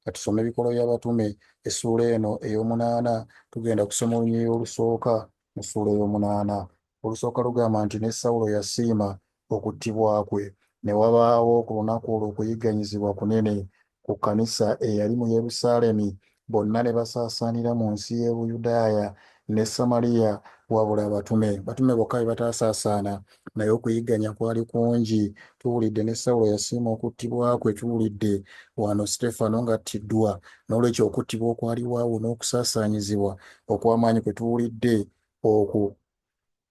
Katusome Ebikolwa by'Abatume essuula eno ey'omunaana. Tugenda kusoma olunyiriri olusooka mu ssuula ey'omunaana. Olusooka lugamba nti, Ne Sawulo yasiima okuttibwa kwe. Ne wabaawo ku lunaku olwo okuyigganyizibwa kunene ku kkanisa eyali mu Yerusaalemi, bonna ne basaasaanira mu nsi y'e Buyudaaya ne Samaliya wabula abatume. Abatume bokka be bataasaasaana. naye okuyigganya kwali kungi. Tuwulidde ne Sawulo yasiima okuttibwa kwe. Tuwulidde wano Siteefano ng'attiddwa. N'olwekyo okuttibwa okwaliwo awo n'okusaasaanyizibwa okw'amaanyi kwe tuwulidde okwo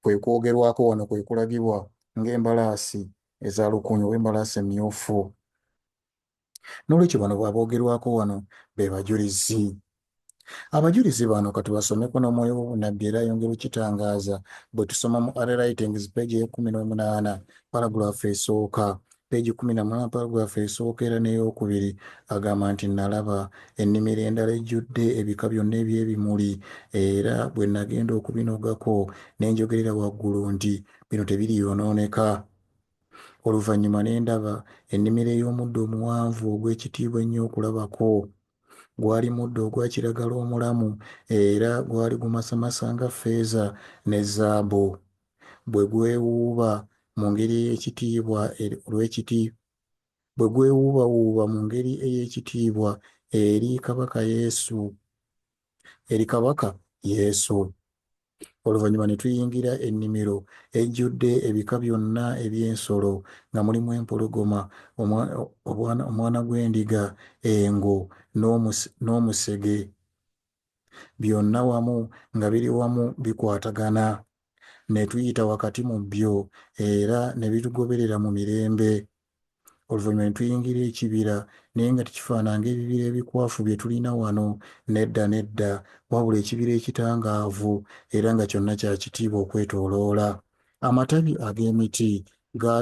kwe kwogerwako wano, kwe kulagibwa ng'embalaasi eza lukunyu oba embalaasi emmyufu. N'olwekyo bano aboogerwako wano be bajulizi. Abajulizi bano katubasomeko n'omwoyo w'obunnabbi era ayongera okukitangaaza bwe tusoma mu Are Writings peegi ey'ekkumi n'omunaana paragulaafu esooka peegi kkumi na munaana paragulaafu esooka era n'eyokubiri agamba nti nalaba ennimiro endala ejjudde ebika byonna eby'ebimuli era bwe nagenda okubinogako ne njogerera waggulu nti bino tebiriyonooneka Oluvannyuma ne ndaba ennimiro ey'omuddo omuwanvu ogw'ekitiibwa ennyo okulabako. Gwali muddo ogwa kiragala omulamu era gwali gumasamasa nga ffeeza ne zzaabu. Bwe gwewuuba mu ngeri ey'ekitiibwa eri olw'ekiti bwe gwewuubawuuba mu ngeri ey'ekitiibwa eri Kabaka Yesu, eri Kabaka Yesu. Oluvannyuma ne tuyingira ennimiro ejjudde ebika byonna eby'ensolo, nga mulimu empologoma, omwana gw'endiga, engo, n'omusege, byonna wamu nga biri wamu bikwatagana. Ne tuyita wakati mu byo, era ne bitugoberera mu mirembe. oluvannyuma ne tuyingira ekibira, naye nga tekifaanana ng'ebibira ebikwafu bye tulina wano. Nedda, nedda, wabula ekibira ekitangaavu, era nga kyonna kya kitiibwa okwetooloola. Amatabi ag'emiti ga,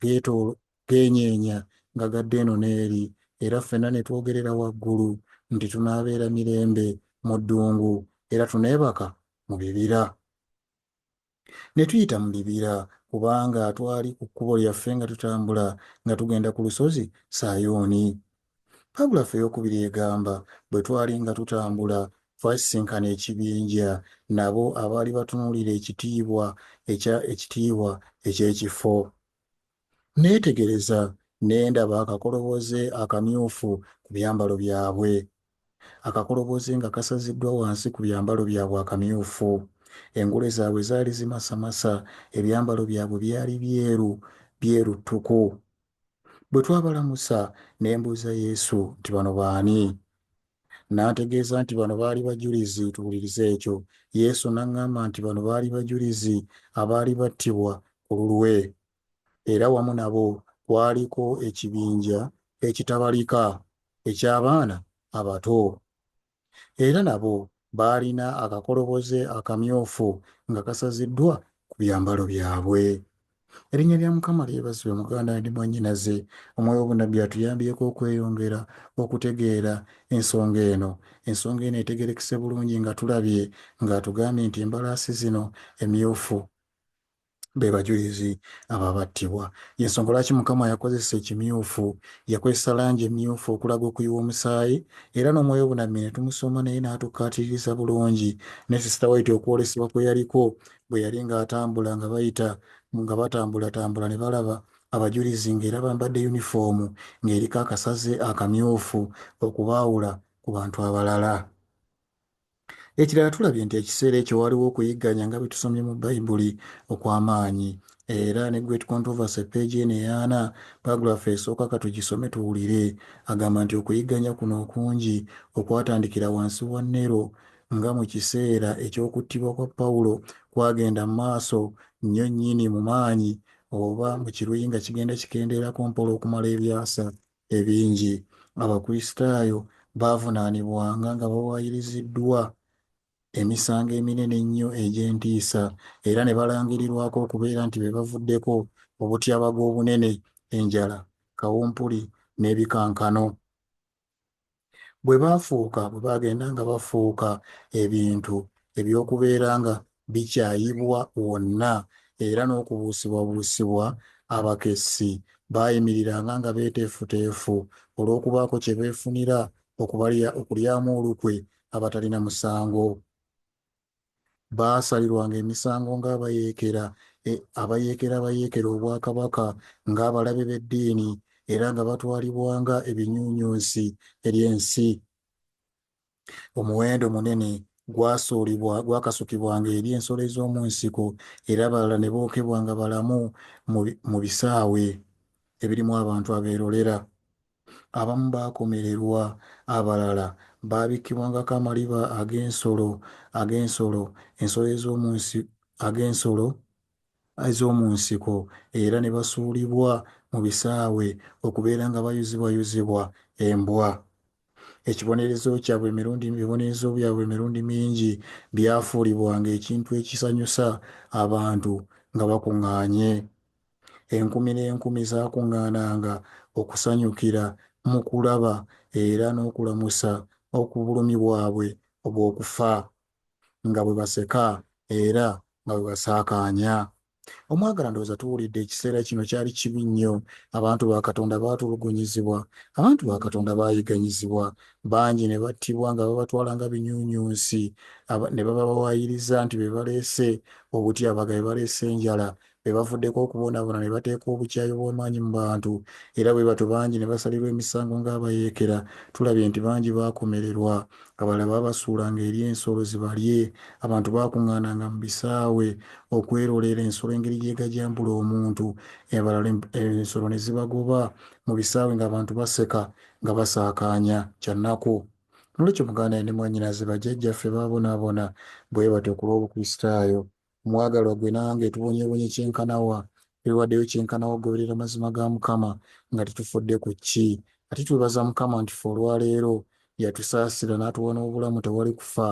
geetoolo, geenyeenya nga gadda eno n'eri, era ffenna ne twogerera waggulu nti tunaabeera mirembe mu ddungu, era tuneebaka mu bibira. ne tuyita mu bibira, kubanga twali ku kkubo lyaffe nga tutambula nga tugenda ku lusozi Sayuuni. Paragulifu ey'okubiri egamba, Bwe twali nga tutambula, twasisinkana ekibinja, nabo abaali batunuulira ekitiibwa ekya ekitiibwa eky'ekifo. Nneetegereza ne ndaba akakoloboze akamyufu ku byambalo byabwe. Akakoloboze nga kasaziddwa wansi ku byambalo byabwe akamyufu. Engule zaabwe zaali zimasamasa, ebyambalo byabwe byali byeru, byeru ttuku. Bwe twabalamusa, ne mbuuza Yesu nti, Bano baani? N'antegeeza nti bano baali bajulizi. Tuwulirize ekyo. Yesu n'aŋŋamba nti bano baali bajulizi abaali battibwa ku lulwe. era wamu nabo kwaliko ekibinja ekitabalika eky'abaana abato. Era nabo baalina akakoloboze akamyufu nga kasaziddwa ku byambalo byabwe. Erinnya lya Mukama lyebazibwe muganda and mwanyinaze, omwoyo w'obunabbi atuyambyeko okweyongera okutegeera ensonga eno. Ensonga eno etegerekese bulungi nga tulabye nga atugambye nti embalaasi zino emyufu. be bajulizi abo abattibwa. Y'ensonga lwaki Mukama yakozesa ekimyufu. Yakozesa langi emmyufu okulaga okuyiwa omusaayi, era n'Omwoyo Obunabbi ne tumusoma naye n'atukkaatiriza bulungi, ne Sister White okwolesebwa kwe yaliko bwe yali nga atambula nga bayita, nga batambulatambula ne balaba abajulizi nga era bambadde yunifoomu nga eriko akasaze akamyufu okubaawula ku bantu abalala. Ekirala tulabye nti ekiseera ekyo waaliwo okuyigganya nga bwe tusomye mu Bayibuli okw'amaanyi. Era ne Great Controversy, ppeegi eno ey'ana, paagrafu esooka ka tugisome tuwulire. Agamba nti okuyigganya kuno okungi okwatandikira wansi wa Nero nga mu kiseera eky'okuttibwa kwa Pawulo kwagenda mu maaso nnyo nnyini mu maanyi, oba mu Kiruyi nga kigenda kikendeerako mpola okumala ebyasa. ebingi, Abakristaayo baavunaanibwanga nga bawaayiriziddwa emisango eminene ennyo egy'entiisa era ne balangirirwako okubeera nti be bavuddeko obutyabaga obunene, enjala, kawumpuli, n'ebikankano. bwe baafuuka bwe baagenda nga bafuuka ebintu eby'okubeera nga bikyayibwa wonna era n'okubuusibwabuusibwa, abakessi baayimiriranga nga beeteefuteefu olw'okubaako kye beefunira okulyamu olukwe abatalina musango. Baasalirwanga emisango ng'abayeekera, e, abayeekera abayeekera obwakabaka, ng'abalabe b'eddiini, era nga batwalibwanga ebinyunyunsi eri ensi. Omuwendo munene gwasuulibwa gwakasukibwanga eri ensolo ez'omu nsiko, era abalala ne bookebwa nga balamu mu bisaawe ebirimu abantu abeerolera. Abamu baakomererwa, abalala baabikkibwangako amaliba ag'ensolo, ag'ensolo, ensolo ez'omu nsi, ag'ensolo ez'omu nsiko, era ne basuulibwa mu bisaawe okubeera nga bayuzibwayuzibwa embwa. Ekibonerezo kyabwe emirundi, ebibonerezo byabwe emirundi mingi byafuulibwanga ekintu ekisanyusa abantu nga bakuŋŋaanye. Enkumi n'enkumi zaakuŋŋaananga okusanyukira mu kulaba era n'okulamusa obulumi bwabwe obw'okufa, nga bwe baseka era nga bwe basaakaanya. Omwagalwa, ndowooza tuwulidde ekiseera kino, kyali kibi nnyo. Abantu ba Katonda baatulugunyizibwa. Abantu ba Katonda baayiganyizibwa. Bangi ne battibwa nga babatwala nga binyuunyuunsi, ne babawaayiriza nti be baleese obutyabaga, be baleese enjala, be bavuddeko okubonaabona ne bateeka obukyayi obw'amaanyi mu bantu era bwe batyo bangi ne basalirwa emisango ng'abayeekera. Tulabye nti bangi baakomererwa, abalala baabasuulanga eri ensolo zibalye, abantu baakuŋŋaananga mu bisaawe okwerolera ensolo engeri gy'egajambula omuntu, abalala ensolo ne zibagoba mu bisaawe ng'abantu baseka nga basaakaanya. Kya nnaku! N'olwekyo muganda ne mwannyinaze bajjajjaffe baabonaabona bwe batyo ku lw'Obukristaayo. Mwagalwa gwe nange tubonyebonye kyenkanawa twewadeyo kyenkanawa okugoberera amazima ga Mukama nga tetufudde ku kki. Ate twebaza Mukama nti ffe olwaleero yatusaasira natuwa n'obulamu tewali kufa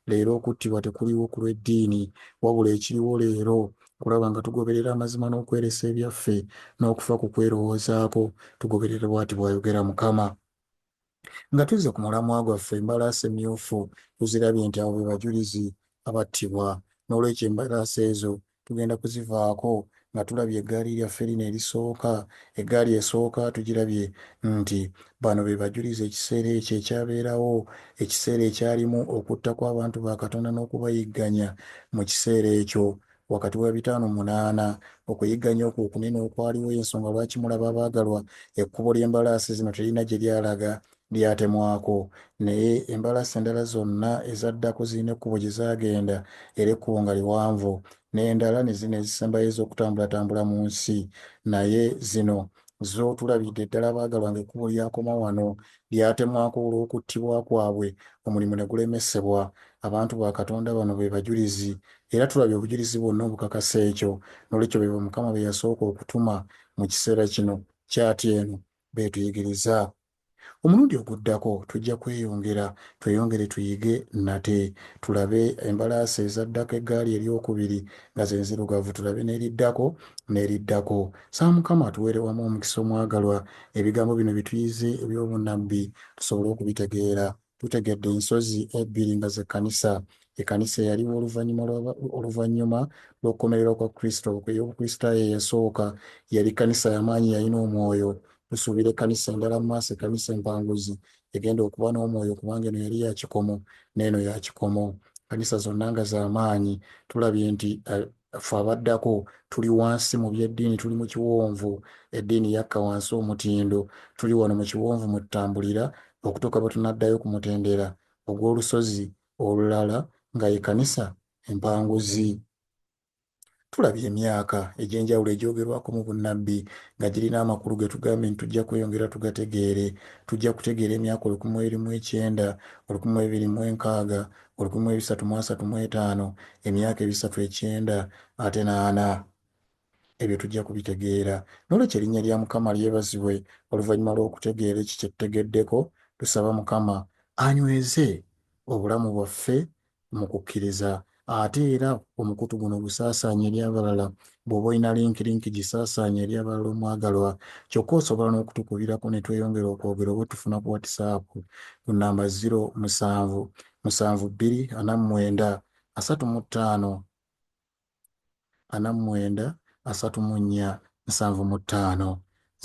leero okuttibwa tekuliwo ku lw'eddiini wabula ekiriwo leero kulaba nga tugoberera amazima n'okweresa ebyaffe n'okufa ku kwerowoozaako tugoberera bwati bwayogera Mukama. Nga tuzze ku mulamwa gwaffe, embalaasi emmyufu tuzirabye nti abo be bajulizi abattibwa. N'olwekyo embalaasi ezo tugenda kuzivaako nga tulabye eggaali lyaffe lino erisooka. Eggaali esooka tugirabye nti bano be bajulizi ekiseera ekyo ekyabeerawo, ekiseera ekyalimu okutta kw'abantu ba Katonda n'okubayigganya mu kiseera ekyo Wakati wa bitaano munaana, okuyigganya okwo okunene okwaliwo y'ensonga lwaki mulaba abaagalwa ekkubo ly'embalaasi zino teririna gye lyalaga, lyatemwako. Naye embalaasi endala zonna ezaddako zirina ekkubo gye zaagenda, era ekkubo nga liwanvu. N'endala, ne zino ezisembayo ez'okutambulatambula mu nsi. Naye zino zo tulabidde ddala abaagalwa ng'ekkubo lyakoma wano, lyatemwako olw'okuttibwa kwabwe, omulimu ne gulemesebwa. Abantu ba Katonda bano be bajulizi, era tulabye obujulizi bwonna obukakasa ekyo. N'olwekyo be bo Mukama be yasooka okutuma mu kiseera kino. Kyati eno beetuyigiriza. Omulundi oguddako tujja kweyongera, tweyongere tuyige nate. Tulabe embalaasi ezaddako, eggaali ery'okubiri, nga ze nzirugavu, tulabe n'eriddako, n'eriddako. Saa Mukama atuwere wamu omukisa omwagalwa, ebigambo bino bituyize eby'obunabbi tusobole okubitegeera. Tutegedde ensozi ebbiri nga ze Kanisa. Ekanisa eyaliwo oluvanyuma lwa oluvanyuma lw'okukomererwa kwa Kristo, ey'obukristaayo eyasooka, yali Kanisa yamaanyi yalina omwoyo. Tusuubira ekanisa endala mu maaso, ekanisa empanguzi egenda okuba n'omwoyo kubanga eno yali ya kikomo n'eno ya kikomo. Kanisa zonna nga z'amaanyi. Tulabye nti ffe abaddako tuli wansi mu by'eddiini tuli mu kiwonvu eddiini yakka wansi omutindo tuli wano mu kiwonvu mwe tutambulira okutuuka bwe tunaddayo ku mutendera ogw'olusozi olulala nga ye kanisa empanguzi tulabye emyaka egy'enjawulo egyogerwako mu bunnabbi nga girina amakulu ge tugambye nti tujja kweyongera tugategeere tujja kutegeera emyaka olukumi mu erimu ekyenda olukumi mu ebiri mu enkaaga olukumi mu ebisatu mu asatu mu etaano, emyaka ebisatu ekyenda ate n'ana. Ebyo tujja kubitegeera. N'olwekyo erinnya lya Mukama lyebazibwe. Oluvannyuma lw'okutegeera ekyo kye tutegeddeko, tusaba Mukama anyweze obulamu bwaffe mu kukkiriza ate era omukutu guno gusaasaanye eri abalala. Bw'oba olina link link gisaasaanye eri abalala omwagalwa. Kyokka osobola n'okutukubirako ne tweyongera okwogera oba otufuna ku WhatsApp ku nnamba ziro musanvu musanvu bbiri ana mu mwenda asatu mu ttaano ana mu mwenda asatu mu nnya nsanvu mu ttaano.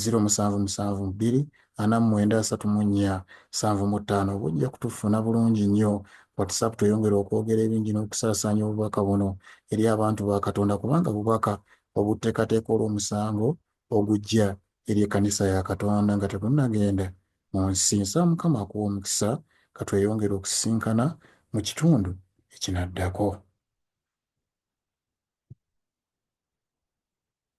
Ziro musanvu musanvu bbiri ana mu mwenda asatu mu nnya nsanvu mu ttaano oba ojja kutufuna bulungi nnyo. WhatsApp tweyongere okwogera ebingi n'okusaasaanya obubaka buno eri abantu ba Katonda kubanga bubaka obuttekateeka olw'omusango ogujja eri ekkanisa ya Katonda nga tebunnagenda mu nsi. Nsaba Mukama akuwe omukisa. Ka tweyongere okusisinkana mu kitundu ekinaddako.